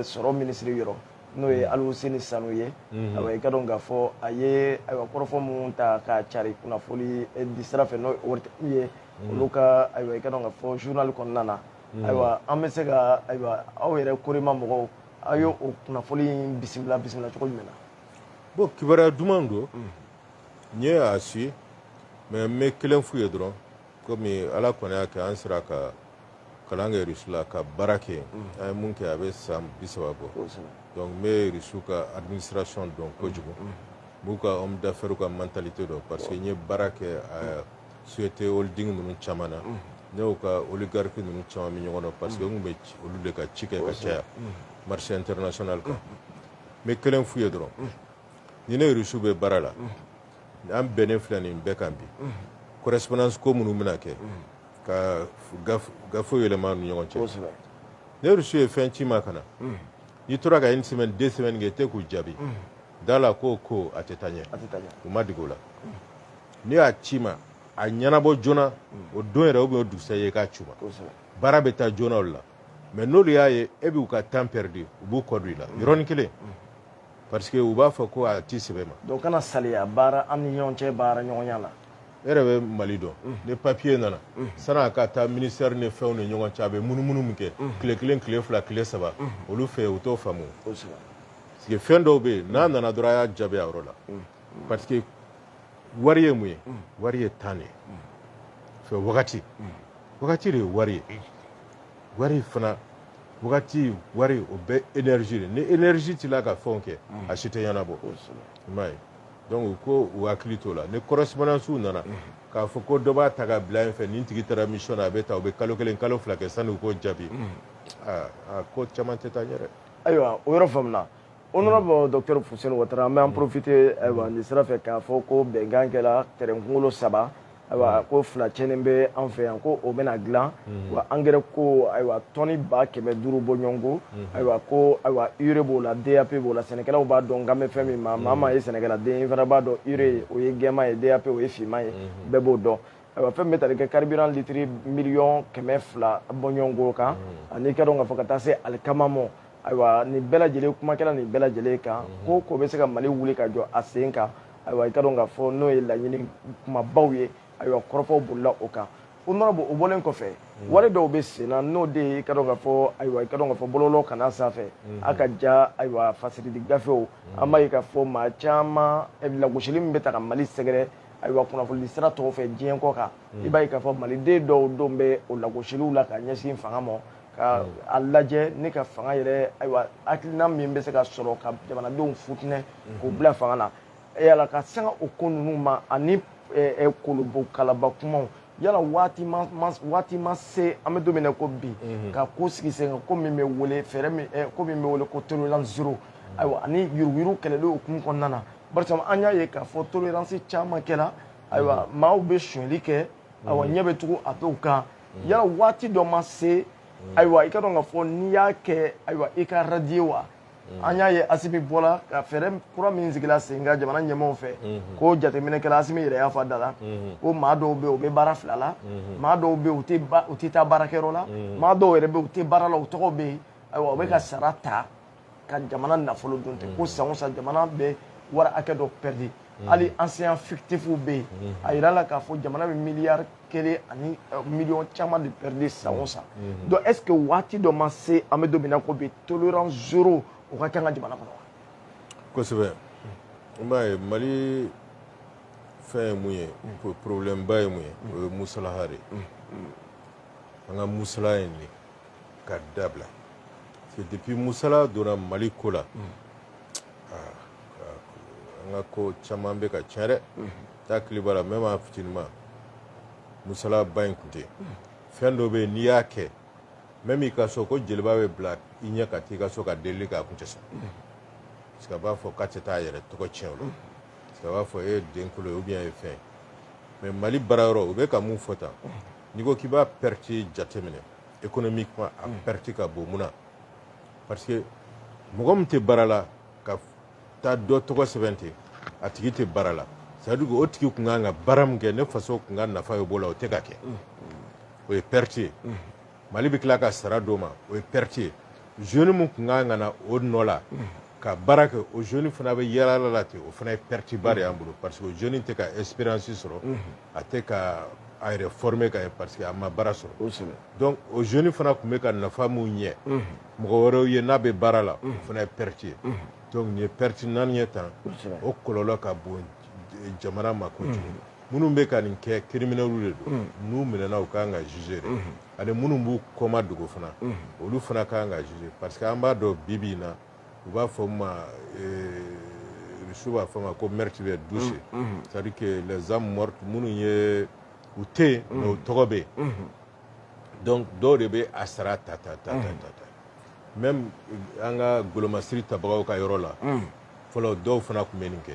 S2: sɔrɔ minisiri yɔrɔ n'o ye mm. Aluseni Sanu ye mm-hmm. ayiwa i k'a dɔn k'a fɔ a ye ayiwa kɔrɔfɔ minnu ta k'a cari kunnafoli eh, di sira fɛ n'o ye mm. olu ka ayiwa i k'a dɔn k'a fɔ journal kɔnɔna na mm. ayiwa an bɛ se ka ayiwa aw yɛrɛ korema mɔgɔw aw ye o kunnafoli in bisimila bisimila cogo jumɛn na bon
S1: kibaruya duman don n ye a su mais n bɛ kelen f'u ye dɔrɔn komi ala kɔni y'a kɛ an sera ka kalan kɛ Russie la ka baara kɛ an ye mun kɛ a bɛ san bi saba bɔ donc n bɛ Russie ka administration dɔn kojugu n b'u ka homme d'affaires ka mentalité dɔn parce que n ye baara kɛ a société holding ninnu caman na ne n'u ka oligarque ninnu caman bɛ ɲɔgɔn dɔn parce que n tun bɛ olu de ka ci kɛ ka caya marché international kan n bɛ kelen f'u ye dɔrɔn ni ne Russie bɛ baara la an bɛnnen filɛ nin bɛɛ kan bi correspondance ko minnu bɛna kɛ ka gafew yɛlɛma an ni ɲɔgɔn cɛ ni Russie ye fɛn ci i ma ka na mm. n'i tora ka une semaine deux semaines kɛ i tɛ k'u jaabi mm. da a la ko ko a tɛ taa ɲɛ u ma dege o la mm. n'u y'a ci i ma a ɲɛnabɔ joona o don yɛrɛ ou bien o dugusɛjɛ k'a ci u ma baara bɛ taa joona o la mais n'olu y'a ye e b'u ka temps perdu u b'u kɔ don i la yɔrɔnin kelen parce que u b'a fɔ ko a t'i sɛbɛ ma donc kana saliya
S2: baara an ni ɲɔgɔn cɛ baara ɲɔgɔnya la e yɛrɛ bɛ
S1: mali dɔn ni papier nana sani a ka taa ministère ni fɛnw ni ɲɔgɔn cɛ a bɛ munumunu min kɛ tile kelen tile fila tile saba olu fɛ yen u t'o faamu parce que fɛn dɔw bɛ yen n'a nana dɔrɔn a y'a jaabi a yɔrɔ la parce que wari ye mun ye wari ye temps de ye fɛ wagati wagati de ye wari ye wari fana wagati wari o bɛ énergie de ni énergie t'i la ka fɛnw kɛ a si tɛ ɲɛnabɔ i m'a ye donc u ko u hakili t'o la ni correspondancew nana k'a fɔ ko dɔ b'a ta ka bila yen fɛn nin tigi taara mission na a bɛ taa u bɛ kalo kelen kalo fila kɛ sani u k'o jaabi ko caman tɛ taa ɲɛ dɛ ayiwa o yɔrɔ
S2: faamuna honorable docteur fuseni watara an bɛ an profiter ayiwa nin sira fɛ k'a fɔ ko bɛnkan kɛla tɛrɛnkungolo saba Ayiwa ko fila cɛnnen bɛ an fɛ yan ko o bɛna dila wa engrais ko ayiwa tɔni ba kɛmɛ duuru bɔɲɔgɔnko ayiwa ko ayiwa urée b'o la DAP b'o la sɛnɛkɛlaw b'a dɔn n kan bɛ fɛn min ma maa maa ye sɛnɛkɛladen i fana b'a dɔn urée o ye gɛman ye DAP o ye finman ye bɛɛ b'o dɔn ayiwa fɛn min bɛ tali kɛ carburant litiri miliyɔn kɛmɛ fila bɔɲɔgɔnko kan ani i ka dɔn k'a fɔ ka taa se alikama ma ayiwa nin bɛɛ lajɛlen kuma kɛla nin bɛɛ lajɛlen kan mhm. ko ko bɛ se ka mali wuli ka jɔ a sen kan ayiwa i ka dɔn k'a fɔ n'o ye laɲini kumabaw ye ayiwa kɔrɔfɔw bolila o kan honorable o bɔlen kɔfɛ mhm. wale dɔw bɛ sen na n'o de ye i ka dɔn k'a fɔ ayiwa i ka dɔn k'a fɔ bɔlɔlɔ kan na sanfɛ mhm. a ka ca ayiwa fasilidi gafew an b'a ye k'a fɔ maa caman eh, lagosili min bɛ taa ka mali sɛgɛrɛ ayiwa kunnafonidi sira tɔw fɛ diɲɛ kɔ kan i b'a ye k'a fɔ maliden dɔw don bɛ o lagosiliw la ka ɲɛsin fanga ma ka a lajɛ ni ka fanga yɛrɛ ayiwa hakilina min bɛ se ka sɔrɔ ka jamanadenw fitinɛ k'u bila fanga na yala k'a sanga o ko ninnu ma ani kolobo kalaba kumaw yala waati ma se an bɛ don min na ko bi ka ko sigi sen kan ko min bɛ wele fɛɛrɛ min ko min bɛ wele ko tolérance zéro ayiwa ani yuruguyurugu kɛlɛli hukumu kɔnɔna na barisa an y'a ye k'a fɔ tolérance caman kɛra ayiwa maaw bɛ sonyali kɛ ayiwa ɲɛ bɛ tugu a dɔw kan mm. yala waati dɔ ma se mm. ayiwa i k'a dɔn k'a fɔ n'i y'a kɛ ayiwa i ka radiye wa mm. an y'a ye asimi bɔra ka fɛɛrɛ kura min sigila sen kan jamana ɲɛmɔgɔw fɛ mm-hmm. ko jateminɛ kɛla asimi yɛrɛ y'a fɔ a da la mm-hmm. ko maa dɔw bɛ yen u bɛ baara fila la mm-hmm. maa dɔw bɛ yen u tɛ taa baarakɛyɔrɔ la maa dɔw yɛrɛ bɛ yen u tɛ baara la u tɔgɔ bɛ yen ayiwa u bɛ ka sara ta ka jamana nafolo dun ten ko san o san jamana bɛ wari hakɛ dɔ pɛridi hali enseignant fictifw bɛ yen a yirala k'a fɔ jamana bɛ miliyari kelen ani miliyɔn caman de pɛridi san o san donc est ce que waati dɔ ma se an bɛ don min na ko bi tolérance zéro o ka kɛ an ka jamana kɔnɔ wa.
S1: kosɛbɛ i b'a ye mali fɛn ye mun ye problème ba ye mun ye o ye musalaha de ye an ka musala nin de. ka dabila parce que depuis musala donna mali ko la ah, ah, an ka ko caman bɛ ka tiɲɛ dɛ taa hakili b'a la même an fitinima musala ba in tun tɛ fɛn dɔ bɛ yen n'i y'a kɛ même i ka so ko jeliba bɛ bila i ɲɛ ka taa i ka so ka delili kɛ a kun tɛ sɔn parce que a b'a fɔ k'a tɛ taa a yɛrɛ tɔgɔ tiɲɛ o la parce que a b'a fɔ e ye den kolon ye ou bien e ye fɛn ye mais mali baarayɔrɔ u bɛ ka mun fɔ tan n'i ko k'i b'a pɛriti jateminɛ économiquement a hmm. pɛriti ka bon mun na parce que mɔgɔ min tɛ baara la ka taa dɔ tɔgɔ sɛbɛn ten a tigi tɛ baara la c'est à dire o tigi tun kan ka baara min kɛ ne faso tun ka nafa ye b'o la o tɛ ka kɛ hmm. o ye pɛriti ye hmm. mali bɛ tila ka sara d'o ma o ye pɛriti ye jeune min tun kan ka na o nɔ la ka baara kɛ o jeune fana bɛ yaalayaala la ten o fana ye pɛritiba de y'an bolo parce que o jeune tɛ ka expérience sɔrɔ a tɛ ka a yɛrɛ former ka ɲɛ parce que a ma baara sɔrɔ kosɛbɛ donc o jeune fana tun bɛ ka nafa min ɲɛ mɔgɔ wɛrɛw ye n'a bɛ baara la o fana ye perte ye donc nin ye perte naani ye tan o kɔlɔlɔ ka bon jamana ma kojugu minnu bɛ ka nin kɛ kiriminɛliw de don n'u minɛna u kan ka juger de ani minnu b'u kɔ madogo fana olu fana kan ka juger parce que an b'a dɔn bi bi in na u b'a fɔ ma rusuw b'a fɔ ma ko mertvye dushi c'est à dire que les âmes mortes minnu ye u tɛ yen u tɔgɔ bɛ yen donc dɔw de bɛ a sara ta même an ka golomasiri tabagaw ka yɔrɔ la fɔlɔ dɔw fana tun bɛ nin kɛ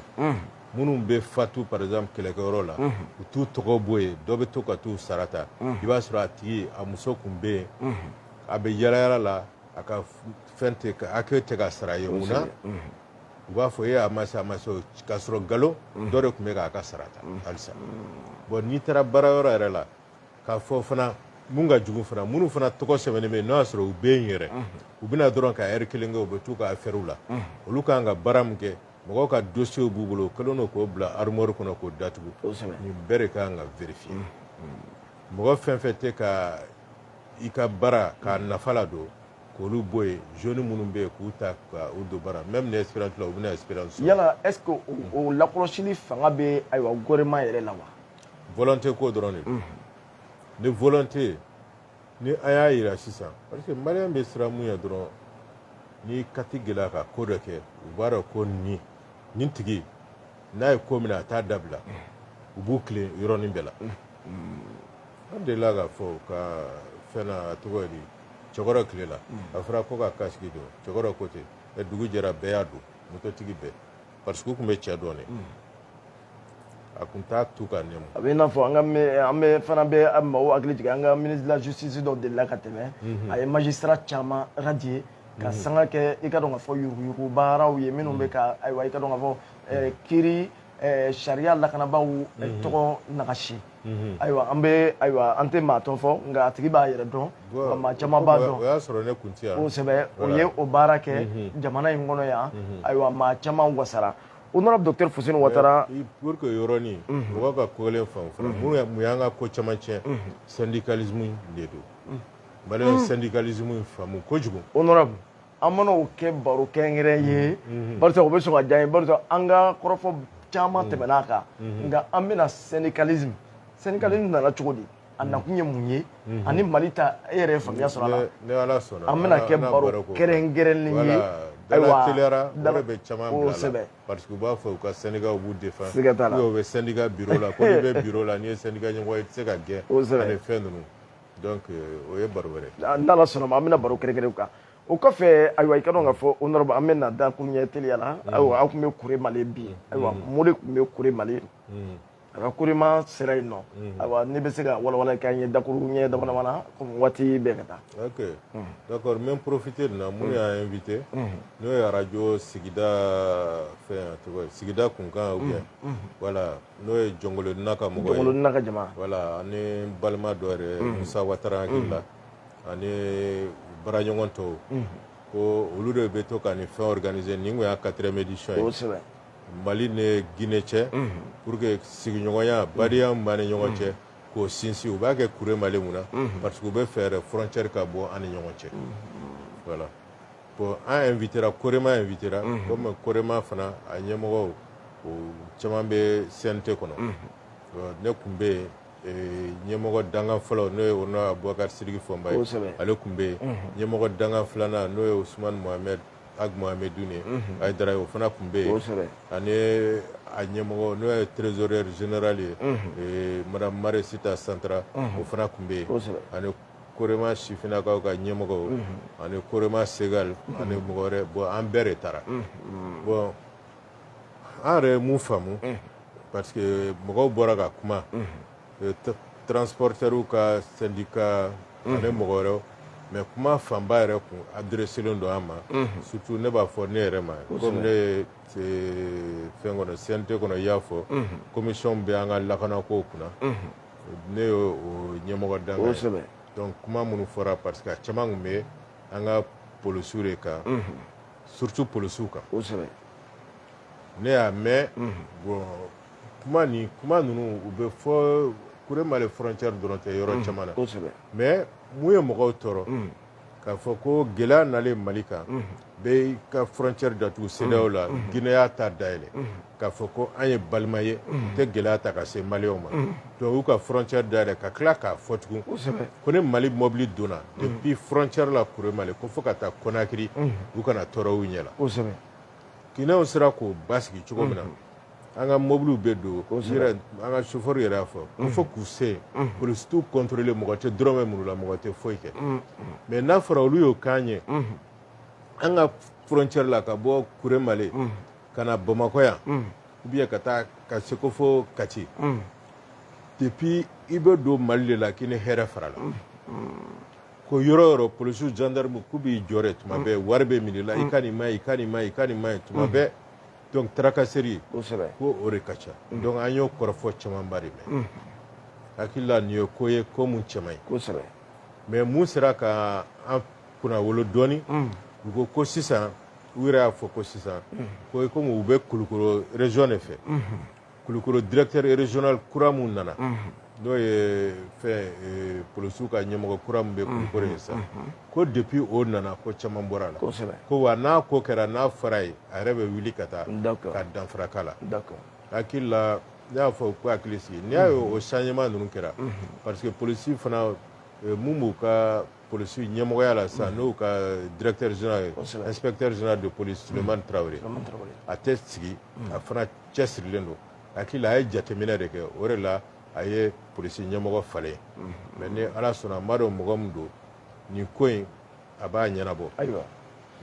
S1: minnu bɛ fatu par exemple kɛlɛkɛyɔrɔ la u t'u tɔgɔ bɔ yen dɔw bɛ to ka taa u sara ta i b'a sɔrɔ a tigi a muso tun bɛ yen a bɛ yaalayaala la a ka fɛn tɛ ka hakɛ tɛ ka sara ye mun na u b'a fɔ e a ma se a ma se k'a sɔrɔ nkalon mm. dɔ de tun bɛ k'a ka sara ta mm. halisa mm. bon n'i taara baarayɔrɔ yɛrɛ la k'a fɔ fana mun ka jugu fana minnu fana tɔgɔ sɛbɛnnen bɛ yen n'o y'a sɔrɔ u bɛ yen yɛrɛ u bɛ na dɔrɔn ka heure kelen kɛ u bɛ t'u ka affairew la olu ka kan ka baara min kɛ mɔgɔw ka dossierw b'u bolo u kɛlen don k'o bila armoire kɔnɔ k'o datugu nin bɛɛ de ka kan ka vérifier mɔgɔ fɛn fɛn tɛ ka i ka baara k'a nafa la don k'olu bɔ yen jeune minnu bɛ yen k'u ta ka u don bara même ni expérience la u bɛna expérience yala est ce que
S2: o lakɔlɔsili fanga bɛ ayiwa gouvernement yɛrɛ la wa volonté ko
S1: dɔrɔn de don ni volonté ni an y'a yira sisan parce que maliyɛn bɛ siran mun ɲɛ dɔrɔn ni katigɛlɛya ka ko dɔ kɛ u b'a dɔn ko nin nin tigi n'a ye ko minɛ a t'a dabila u b'u tilen yɔrɔnin bɛɛ la an delila k'a fɔ ka fɛn na a tɔgɔ ye di Cɛkɔrɔ tile la a fɔra ko ka casque don Cɛkɔrɔ ko ten ɛ dugu jɛra bɛɛ y'a don mototigi bɛɛ parce que u tun bɛ cɛ dɔn de a tun t'a tu ka nɛmu a bɛ i n'a fɔ an ka mi-
S2: an bɛ fana bɛ maaw hakili jigin an ka ministre de la justice dɔ delila ka tɛmɛ a ye magistrat caman radier k'a sabu kɛ i k'a dɔn k'a fɔ yuruguyurugu baaraw ye minnu bɛ ka ayiwa i k'a dɔn k'a fɔ eh, kiiri eh, sariya lakanabaaw eh, tɔgɔ nagasi Mhm. ayiwa an bɛ ayiwa an tɛ maa tɔgɔ fɔ nka a tigi b'a yɛrɛ dɔn nka maa caman b'a dɔn o y'a sɔrɔ ne kun tɛ
S1: yan kosɛbɛ o ye o
S2: baara kɛ mhm. jamana in kɔnɔ yan mhm. ayiwa maa caman wasara honorable docteur Fuseni Watara pour que
S1: yɔrɔnin mɔgɔw ka ko kelen faamu fana mun y'an ka ko caman tiɲɛ syndicalisme de don Mali ye syndicalisme faamu kojugu honorable
S2: an bɛna o kɛ baro kɛrɛnkɛrɛn ye barisa o bɛ sɔn ka diya ye barisa an ka kɔrɔfɔ caman tɛmɛna a kan nka an bɛna syndicalisme syndicalisme nana cogo di a nakun ye mun ye ani Mali ta e yɛrɛ ye faamuya sɔrɔ a la
S1: an bɛna kɛ
S2: baro kɛrɛnkɛrɛnnen ye ayiwa dala
S1: bɛ caman bila la kosɛbɛ parce que u b'a fɔ u ka syndicat u b'u défend siga t'a la ou bien u bɛ syndicat bureau la ko n'i bɛ bureau la n'i ye syndicat ɲɛmɔgɔ ye i tɛ se ka gɛn kosɛbɛ ani fɛn ninnu donc euh, o ye baro wɛrɛ ah, n'Ala sɔnna a ma an bɛna
S2: baro kɛrɛnkɛrɛn k'o kan o kɔfɛ ayiwa i k'a dɔn k'a fɔ honorable an bɛna dakuruɲɛ teliya la mm. ayiwa aw tun bɛ Kuremale bi mm. ayiwa mm. mun de tun bɛ Kuremale a ka kurema sera yen nɔ ayiwa n'i bɛ se ka walawala kɛ an ye dakuruɲɛ damadama na komi waati bɛ ka taa
S1: ok d'accord n bɛ profiter nin na minnu y'an inviter n'o ye arajo sigida fɛn a tɔgɔ ye sigida kunkan ou bien voilà n'o ye Jɔnkolonin n'a ka mɔgɔ ye Jɔnkolonin n'a ka jama
S2: voilà
S1: ani balima dɔ yɛrɛ mhm. Musa Watara hakili la mhm. ani baaraɲɔgɔn tɔw mhm. ko olu de bɛ to ka nin fɛn organiser nin tun y'a quatrième édition ye kosɛbɛ Mali ni Guinée cɛ pour que sigiɲɔgɔnya badenya min b'an ni ɲɔgɔn cɛ k'o sinsin u b'a kɛ Kuremale mun na parce que u b'a fɛ yɛrɛ frontière ka bɔ an ni ɲɔgɔn cɛ voilà Bon an invitera COREMA invitera unhun comme COREMA fana a ɲɛmɔgɔw o caman be CNT kɔnɔ unhun bon ne tun be yen ee ɲɛmɔgɔ dankan fɔlɔ n'o ye Honorable Abubakari Sidiki Fɔnba ye kosɛbɛ ale tun be yen unhun ɲɛmɔgɔ dankan filanan n'o ye Ousmane Mohamed Ag Mohamedoune ye unhun Aidara ye o fana tun be yen kosɛbɛ ani a ɲɛmɔgɔ n'o ye trésorière générale ye unhun ee madame Mare Sita Santara unhun o fana tun be yen kosɛbɛ ani COREMA sifinnakaw ka ɲɛmɔgɔw ani COREMA Segal ani mɔgɔ bon an bɛɛ de taara bon an yɛrɛ ye mun faamu parce que mɔgɔw bɔra ka kuma transporteurw ka syndicat ani mɔgɔ wɛrɛ mais kuma fanba yɛrɛ kun adresselen don an ma surtout ne b'a fɔ ne yɛrɛ ma comme ne ye fɛn kɔnɔ CNT kɔnɔ i y'a fɔ commission bɛ an ka lakanako kunna Ne y'o ɲɛmɔgɔ dankan ye kosɛbɛ donc kuma minnu fɔra parce que a caman tun bɛ an ka polisiw de kan surtout polisiw kan kosɛbɛ ne y'a mɛn bon kuma ni kuma ninnu u bɛ fɔ Kuremale frontière dɔrɔn tɛ yɔrɔ caman na kosɛbɛ mais mun ye mɔgɔw tɔɔrɔ k'a fɔ ko gɛlɛya nalen mali kan bɛɛ ka frontière datugu CEDEAO la Guinée y'a ta dayɛlɛn k'a fɔ ko an ye balima ye n tɛ gɛlɛya ta ka se maliyɛnw ma donc u ka frontière dayɛlɛn ka tila k'a fɔ tugun ko ni mali mɔbili donna depuis frontière la Kuremale ko fo ka taa Conakry u kana tɔɔrɔ u ɲɛ na Guinéenw sera k'o basigi cogo min na an ka mɔbiliw bɛ don an ka chauffeur yɛrɛ y'a fɔ ko fo k'u se yen polisi t'u contrôler mɔgɔ tɛ dɔrɔmɛ minɛ u la mɔgɔ tɛ foyi kɛ mais n'a fɔra olu y'o k'an ye an ka frontière la ka bɔ Kuremale ka na bamakɔ yan ou bien ka taa ka se ko fo kati depuis i bɛ don mali de la k'i ni hɛrɛ farala ko yɔrɔ yɔrɔ polisiw zandarimu k'u b'i jɔ dɛ tuma bɛɛ wari bɛ minɛ la i ka nin ma i ka nin ma i ka nin ma ye tuma bɛɛ donc tarakaseri kosɛbɛ ko o de ka ca donc an y'o kɔrɔfɔ camanba de mɛn hakili la nin ye ko ye ko mun cɛman ye kosɛbɛ mais mun sera ka an kunnawolo dɔɔni u ko ko sisan u yɛrɛ y'a fɔ ko sisan ko komi u bɛ kulukoro région de fɛ kulukoro directeur régional kura min nana n'o ye fɛn polisiw ka ɲɛmɔgɔ kura min bɛ kulukoro yen sa ko depuis o nana ko caman bɔra a la kosɛbɛ ko wa n'a ko kɛra n'a fɔra a ye a yɛrɛ bɛ wuli ka taa D'accord. ka danfara k'a la d'accord n hakili la ne y'a fɔ ko hakili sigi n'i y'a ye o changement ninnu kɛra parce que polisi fana eh, mun b'u ka Polisiw ɲɛmɔgɔya la sisan n'u ka directeur inspecteur général de police Sulemani tarawele a tɛ sigi a fana cɛsirilen don hakili la a ye jateminɛ de kɛ o de la a ye polisi ɲɛmɔgɔ falen mais ni ala sɔnna n b'a dɔn mɔgɔ min don nin ko in a b'a ɲɛnabɔ ayiwa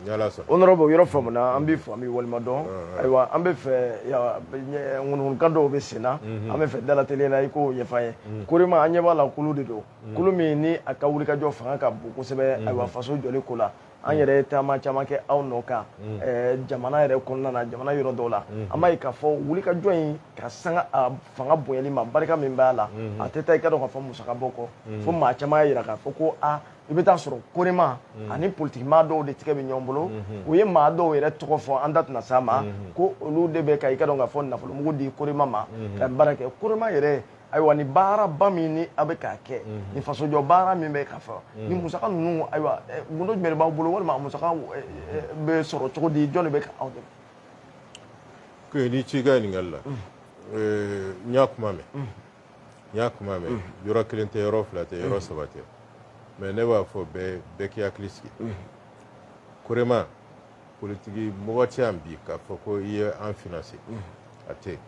S1: ni ala sɔnna honorable o yɔrɔ faamuna
S2: an b'i fo an b'i waleɲumandɔn ayiwa an b'a fɛ ŋunuŋunukan dɔw bɛ senna an b'a fɛ dalateliya la i k'o ɲɛf'an ye korema an ɲɛ b'a la kulu de don kulu min ni a ka wulikajɔ fanga ka bon kosɛbɛ mhm. ayiwa faso jɔli ko la an mhm. yɛrɛ ye taama caman kɛ aw nɔ kan mhm. jamana yɛrɛ kɔnɔna na jamana yɔrɔ dɔw la an b'a ye k'a fɔ wulikajɔ in k'a sanga a fanga bonyali ma barika min b'a la a tɛ taa i k'a dɔn k'a fɔ musakabɔ kɔ fo maa caman y'a jira k'a fɔ ko a i bɛ taa sɔrɔ korema ani politikimaa dɔw de tigɛ bɛ ɲɔgɔn bolo u ye maa dɔw yɛrɛ tɔgɔ fɔ an da tɛna s'a ma ko olu de bɛ ka i k'a dɔn k'a fɔ nafolomugu di korema ma ka baara kɛ korema yɛrɛ ayiwa ni baaraba min ni a bɛ k'a kɛ ni fasojɔ baara min bɛ ka fɔ ni musaka ninnu ayiwa gundo jumɛn de b'aw bolo walima musaka bɛ sɔrɔ cogo di jɔn de bɛ ka aw dɛmɛ
S1: ok i ni ce i ka ɲininkali la n y'a kuma mɛn n y'a kuma mɛn yɔrɔ kelen tɛ yɔrɔ fila tɛ yɔrɔ saba tɛ mais ne b'a fɔ bɛɛ bɛɛ k'i hakili sigi korema politiki mɔgɔ tɛ yan bi k'a fɔ ko i ye an financer a tɛ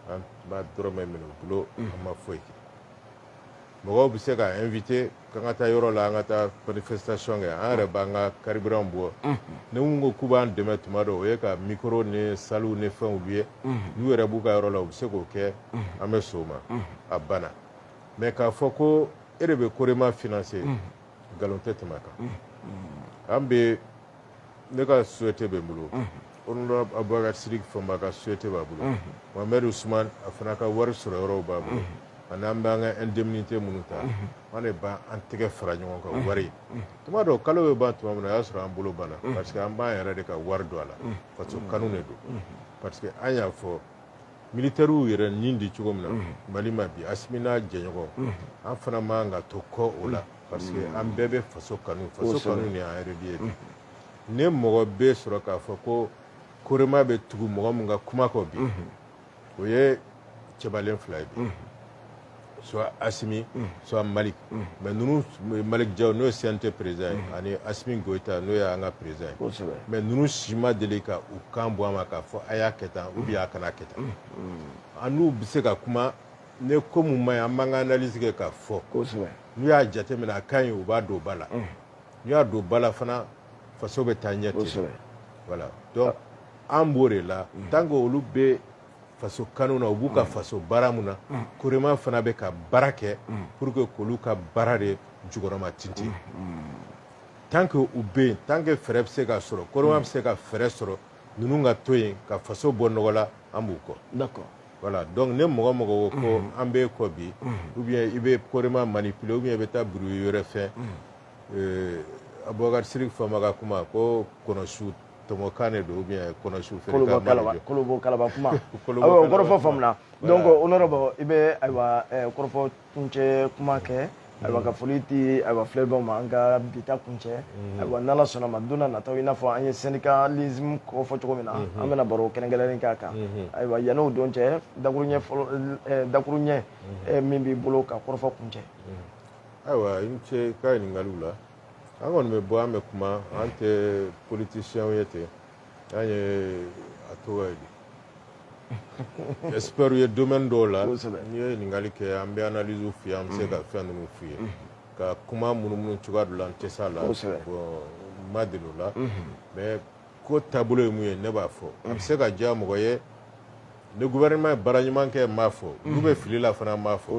S1: an ma dɔrɔmɛ minɛ u bolo an ma foyi kɛ mɔgɔw bɛ se k'an inviter k'an ka taa yɔrɔ la an ka taa manifestation kɛ an yɛrɛ b'an ka carburant bɔ ni mun ko k'u b'an dɛmɛ tuma dɔ o ye ka micro ni salle ni fɛnw ye n'u yɛrɛ b'u ka yɔrɔ la u bɛ se k'o kɛ an bɛ sɔn o ma a banna mais k'a fɔ ko e de bɛ korema financer nkalon tɛ tɛmɛ a kan an bɛ ne ka société bɛ n bolo honorable abubakar sidiki fɔnba ka société b'a bolo mohamed usman a fana ka wari sɔrɔ yɔrɔw b'a bolo ani an b'an ka indemnité minnu ta an de b'an tɛgɛ fara ɲɔgɔn kan wari tuma dɔw kalo bɛ ban tuma min na o y'a sɔrɔ an bolo banna parce que an b'an yɛrɛ de ka wari don a la faso kanu de don parce que an y'a fɔ Militɛriw yɛrɛ nin di cogo min na mali ma bi asimi n'a jɛɲɔgɔn an fana man kan ka to kɔ o la parce que an bɛɛ bɛ faso kanu faso kanu ni an yɛrɛ de ye ni mɔgɔ bɛ sɔrɔ k'a fɔ ko korema bɛ tugu mɔgɔ min ka kuma kɔ bi o ye cɛbalen fila ye bi soit Assimi, mm. soit Malik. Mm. Mais ninnu, Malik Diaw, n'o ye CNT président, mm. ani Assimi Goïta, n'o ye an ka président. Mais ninnu si ma deli ka u kan bɔ an ma k'a fɔ a y'a kɛ tan ou bien kana kɛ tan. An n'u bɛ se ka kuma ni ko min man ɲi an b'an ka analyse kɛ k'a fɔ n'u y'a jateminɛ a ka ɲi u b'a don ba la n'u y'a don ba la fana faso bɛ taa ɲɛ ten voilà donc an b'o de la tant que olu bɛ faso kanu na u b'u ka faso baara mun na korema fana bɛ ka baara kɛ pour que k'olu ka baara de jukɔrɔma tintin tant que u bɛ yen tant que fɛɛrɛ bɛ se ka sɔrɔ korema bɛ se ka fɛɛrɛ sɔrɔ ninnu ka to yen ka faso bɔ nɔgɔ la an b'u kɔ d'accord
S2: voilà donc
S1: ne mɔgɔ o mɔgɔ ko an bɛ kɔ bi ou bien i bɛ korema manipuler ou bien i bɛ taa bruit wɛrɛ fɛ Abubakari Siriki Fomba ka kuma ko kɔnɔsu Tɔmɔ kan de don oubien kɔnɔ su feere kan de don kolobo kalaba
S2: kuma kolobo kalaba kuma o kɔrɔfɔ faamuna donc honorable i bɛ ayiwa kɔrɔfɔ kuncɛ kuma kɛ ayiwa ka foli di ayiwa filɛbaaw ma an ka bi ta kuncɛ ayiwa n'Ala sɔnna ma don n'a nataw i n'a fɔ an ye syndicalisme kɔrɔfɔ cogo min na an bɛna baro kɛrɛnkɛrɛnnen k'a kan ayiwa yanni o don cɛ dakuruɲɛ fɔlɔ dakuruɲɛ min b'i bolo ka kɔrɔfɔ kuncɛ ayiwa
S1: i ni ce i ka ɲininkaliw la an kɔni bɛ bɔ an bɛ kuma an tɛ politicienw ye ten an ye a tɔgɔ ye di expertw ye domaine dɔw la n'i ye ɲininkali kɛ an bɛ analyse f'i ye an bɛ se ka fɛn ninnu f'i ye ka kuma munumunu cogoya dɔ la n tɛ s'a la bon n ma deli o la ko taabolo ye mun ye ne b'a fɔ a bɛ se ka diya mɔgɔ ye ni gouvernement ye baara ɲuman kɛ n b'a fɔ n'u bɛ fili la fana n b'a fɔ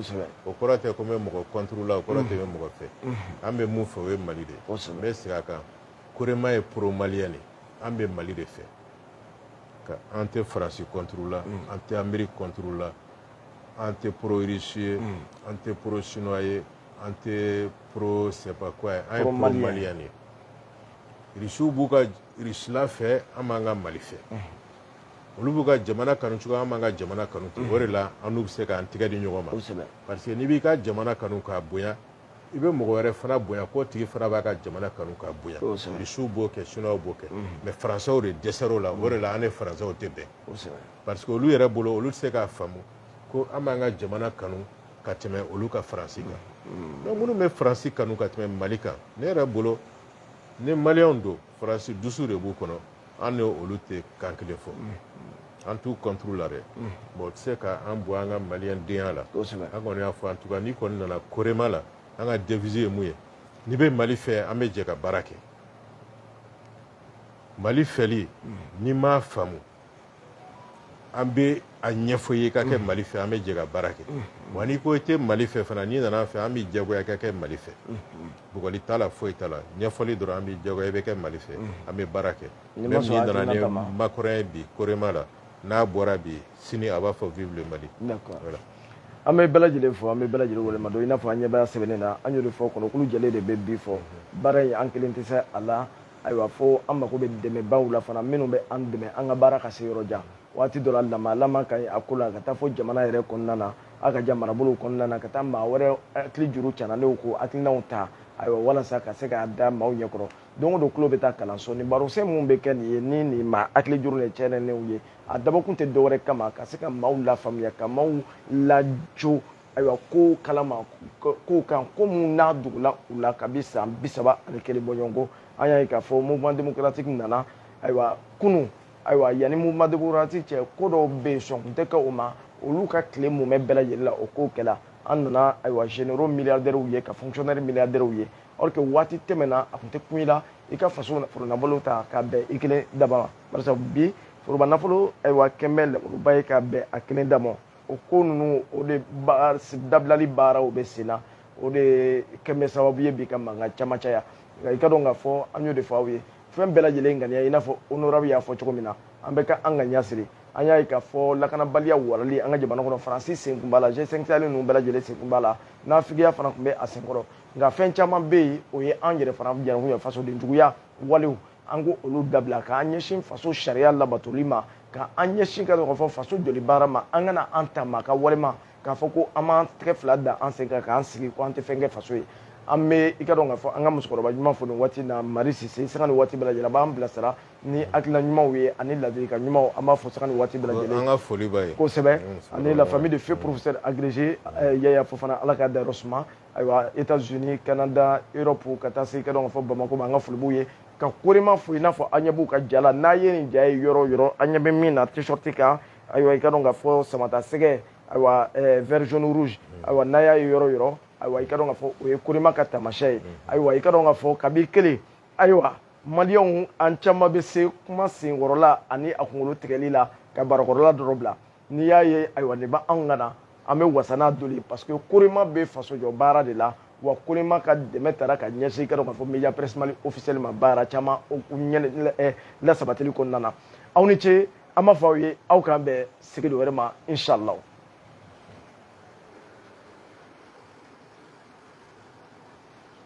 S1: o kɔrɔ tɛ ko n bɛ mɔgɔ contre la o kɔrɔ tɛ n bɛ mɔgɔ fɛ an bɛ mun fɛ o ye Mali de ye n bɛ segin a kan Korema ye pro malien de an bɛ Mali de fɛ ka an tɛ Faransi contre la an tɛ Amerique contre la an tɛ pro Russe ye an tɛ pro Chinois ye an tɛ pro sais pas quoi ye an ye pro malien de ye irisiw b'u ka irisila fɛ an b'an ka mali fɛ olu b'u ka jamana kanu cogoya an b'an ka jamana kanu ten o de la an n'u bɛ se k'an tɛgɛ di ɲɔgɔn ma parce que n'i b'i ka jamana kanu k'a bonya i bɛ mɔgɔ wɛrɛ fana bonya k'o tigi fana b'a ka jamana kanu k'a bonya irisiw b'o kɛ siniwaw b'o kɛ mɛ faransɛw de dɛsɛr'o la o de la an ni faransɛw tɛ bɛn parce que olu yɛrɛ bolo olu tɛ se k'a faamu ko an b'an ka jamana kanu ka tɛmɛ olu ka faransi kan donc minnu bɛ faransi kanu ka tɛmɛ mali kan ne yɛrɛ bolo ni maliyɛnw don faransi dusu de b'u kɔnɔ an ni olu tɛ kan kelen fɔ an t'u contre la dɛ bon o tɛ se ka an bɔ an ka maliyɛn denya la an kɔni y'a fɔ en tout cas n'i kɔni nana korema la an ka devise ye mun ye n'i bɛ mali fɛ an bɛ jɛ ka baara kɛ mali fɛli n'i m'a faamu an bɛ a ɲɛfɔ i ye ka kɛ mali fɛ an bɛ jɛ ka baara kɛ wa n'i ko i tɛ mali fɛ fana n'i nana an fɛ an b'i jagoya ka kɛ mali fɛ bugɔli t'a la foyi t'a la ɲɛfɔli dɔrɔn an b'i jagoya i bɛ kɛ mali fɛ an bɛ baara kɛ même n'i nana ni Macron ye bi korema la n'a bɔra bi sini a b'a fɔ vive le
S2: mali an bɛ bɛɛ lajɛlen fo an bɛ bɛɛ lajɛlen waleɲumandɔn i n'a fɔ an ɲɛ sɛbɛn na an y'o de fɔ kɔnɔkulu jɛlen de bɛ bi fɔ baara in an kelen tɛ se a la ayiwa fo an mako bɛ dɛmɛbaw la fana minnu bɛ an dɛmɛ an ka baara ka se yɔrɔ jan waati dɔ la lamalama ka ɲi a ko la ka taa fo jamana yɛrɛ kɔnɔna na a ka ja marabolow kɔnɔna na ka taa maa wɛrɛ hakili juru cananenw k'u hakilinaw ta ayiwa walasa ka se k'a da maaw ɲɛkɔrɔ don o don tulo bɛ taa kalanso ni barosen minnu bɛ kɛ nin ye ni nin maa hakili juru ni cɛnɛnenw ye a dabɔkun tɛ dɔwɛrɛ kama ka se ka maaw lafaamuya ka maaw lajɔ ayiwa ko kalama ko kan ko minnu n'a dugula u la kabi san bi saba ani kelen bɔɲɔgɔnko an y'a ye k'a fɔ mouvement démocratique nana ayiwa kunun ayiwa yanni mouvement démocratique cɛ ko dɔw bɛ yen sɔn tun tɛ kɛ o ma olu ka tile mumɛ bɛɛ lajɛlen la o kow kɛla an nana ayiwa généraux milliardaires ye ka fonctionnaires milliardaires ye or que waati tɛmɛna a tun tɛ kun i la i ka faso foroba nafolo ta k'a bɛn i kelen dama ma barisa bi foroba nafolo ayiwa kɛlen bɛ lemuruba ye k'a bɛn a kelen dama o ko ninnu o de dabilali baaraw bɛ sen na o de kɛlen bɛ sababu ye bi ka mankan caman caya nka i k'a dɔn k'a fɔ an y'o de fɔ aw ye fɛn bɛɛ lajɛlen ŋaniya i n'a fɔ honorable y'a fɔ cogo min na an bɛɛ ka an ŋaniya siri an y'a ye k'a fɔ lakanabaliya warali an ka jamana kɔnɔ faransi sen kun b'a la g5 sahel ninnu bɛɛ lajɛlen sen kun b'a la nafigiya fana tun bɛ a senkɔrɔ nka fɛn caman bɛ yen o ye an yɛrɛ fana jarakun ye fasodenjuguya walew an ko olu dabila k'an ɲɛsin faso sariya labatoli ma ka an ɲɛsin i k'a dɔn k'a fɔ faso jɔli baara ma an kana an da maa kan walima k'a fɔ ko an b'an tɛgɛ fila da an sen kan k'an sigi ko an tɛ fɛn kɛ faso ye an bɛ i k'a dɔn k'a fɔ an ka musokɔrɔba ɲuman fo nin waati na mari sise sanga ni waati bɛɛ lajɛlen a b'an bilasira ni hakilina ɲumanw ye ani ladilikan ɲumanw an b'a fo sanga ni waati bɛɛ lajɛlen an ka foli b'a ye kosɛbɛ
S1: ani la
S2: famille de feu professeur agrégé yaya fofana ala k'a dayɔrɔ suma ayiwa etats unis canada europe ka taa se i k'a dɔn k'a fɔ bamakɔ ma an ka foli b'u ye ka korema fo i n'a fɔ an ɲɛ b'u ka ja la n'a ye nin ja ye yɔrɔ o yɔrɔ an ɲɛ bɛ min na t-shirt kan ayiwa i k'a dɔn k'a fɔ samata sɛgɛ ayiwa eh, vert jaune rouge ayiwa n'a y'a ye yɔrɔ o yɔrɔ ayiwa i k'a dɔn k'a fɔ o ye korema ka taamasiyɛn ye ayiwa i k'a dɔn k'a fɔ kabi kelen ayiwa maliyɛnw an caman bɛ se kuma senkɔrɔla ani a kunkolo tigɛli la ka barakɔrɔla dɔrɔn bila n'i y'a ye ayiwa nin bɛ anw kan na an bɛ wasa n'a doli ye parce que korema bɛ fasojɔ baara de la wa korema ka dɛmɛ taara ka ɲɛsin i k'a dɔn k'a fɔ media presse mali officiel ma baara caman eh, lasabatili kɔnɔna na aw ni ce an b'a fɔ aw ye aw k'an bɛn sigi dɔ wɛrɛ ma inshallah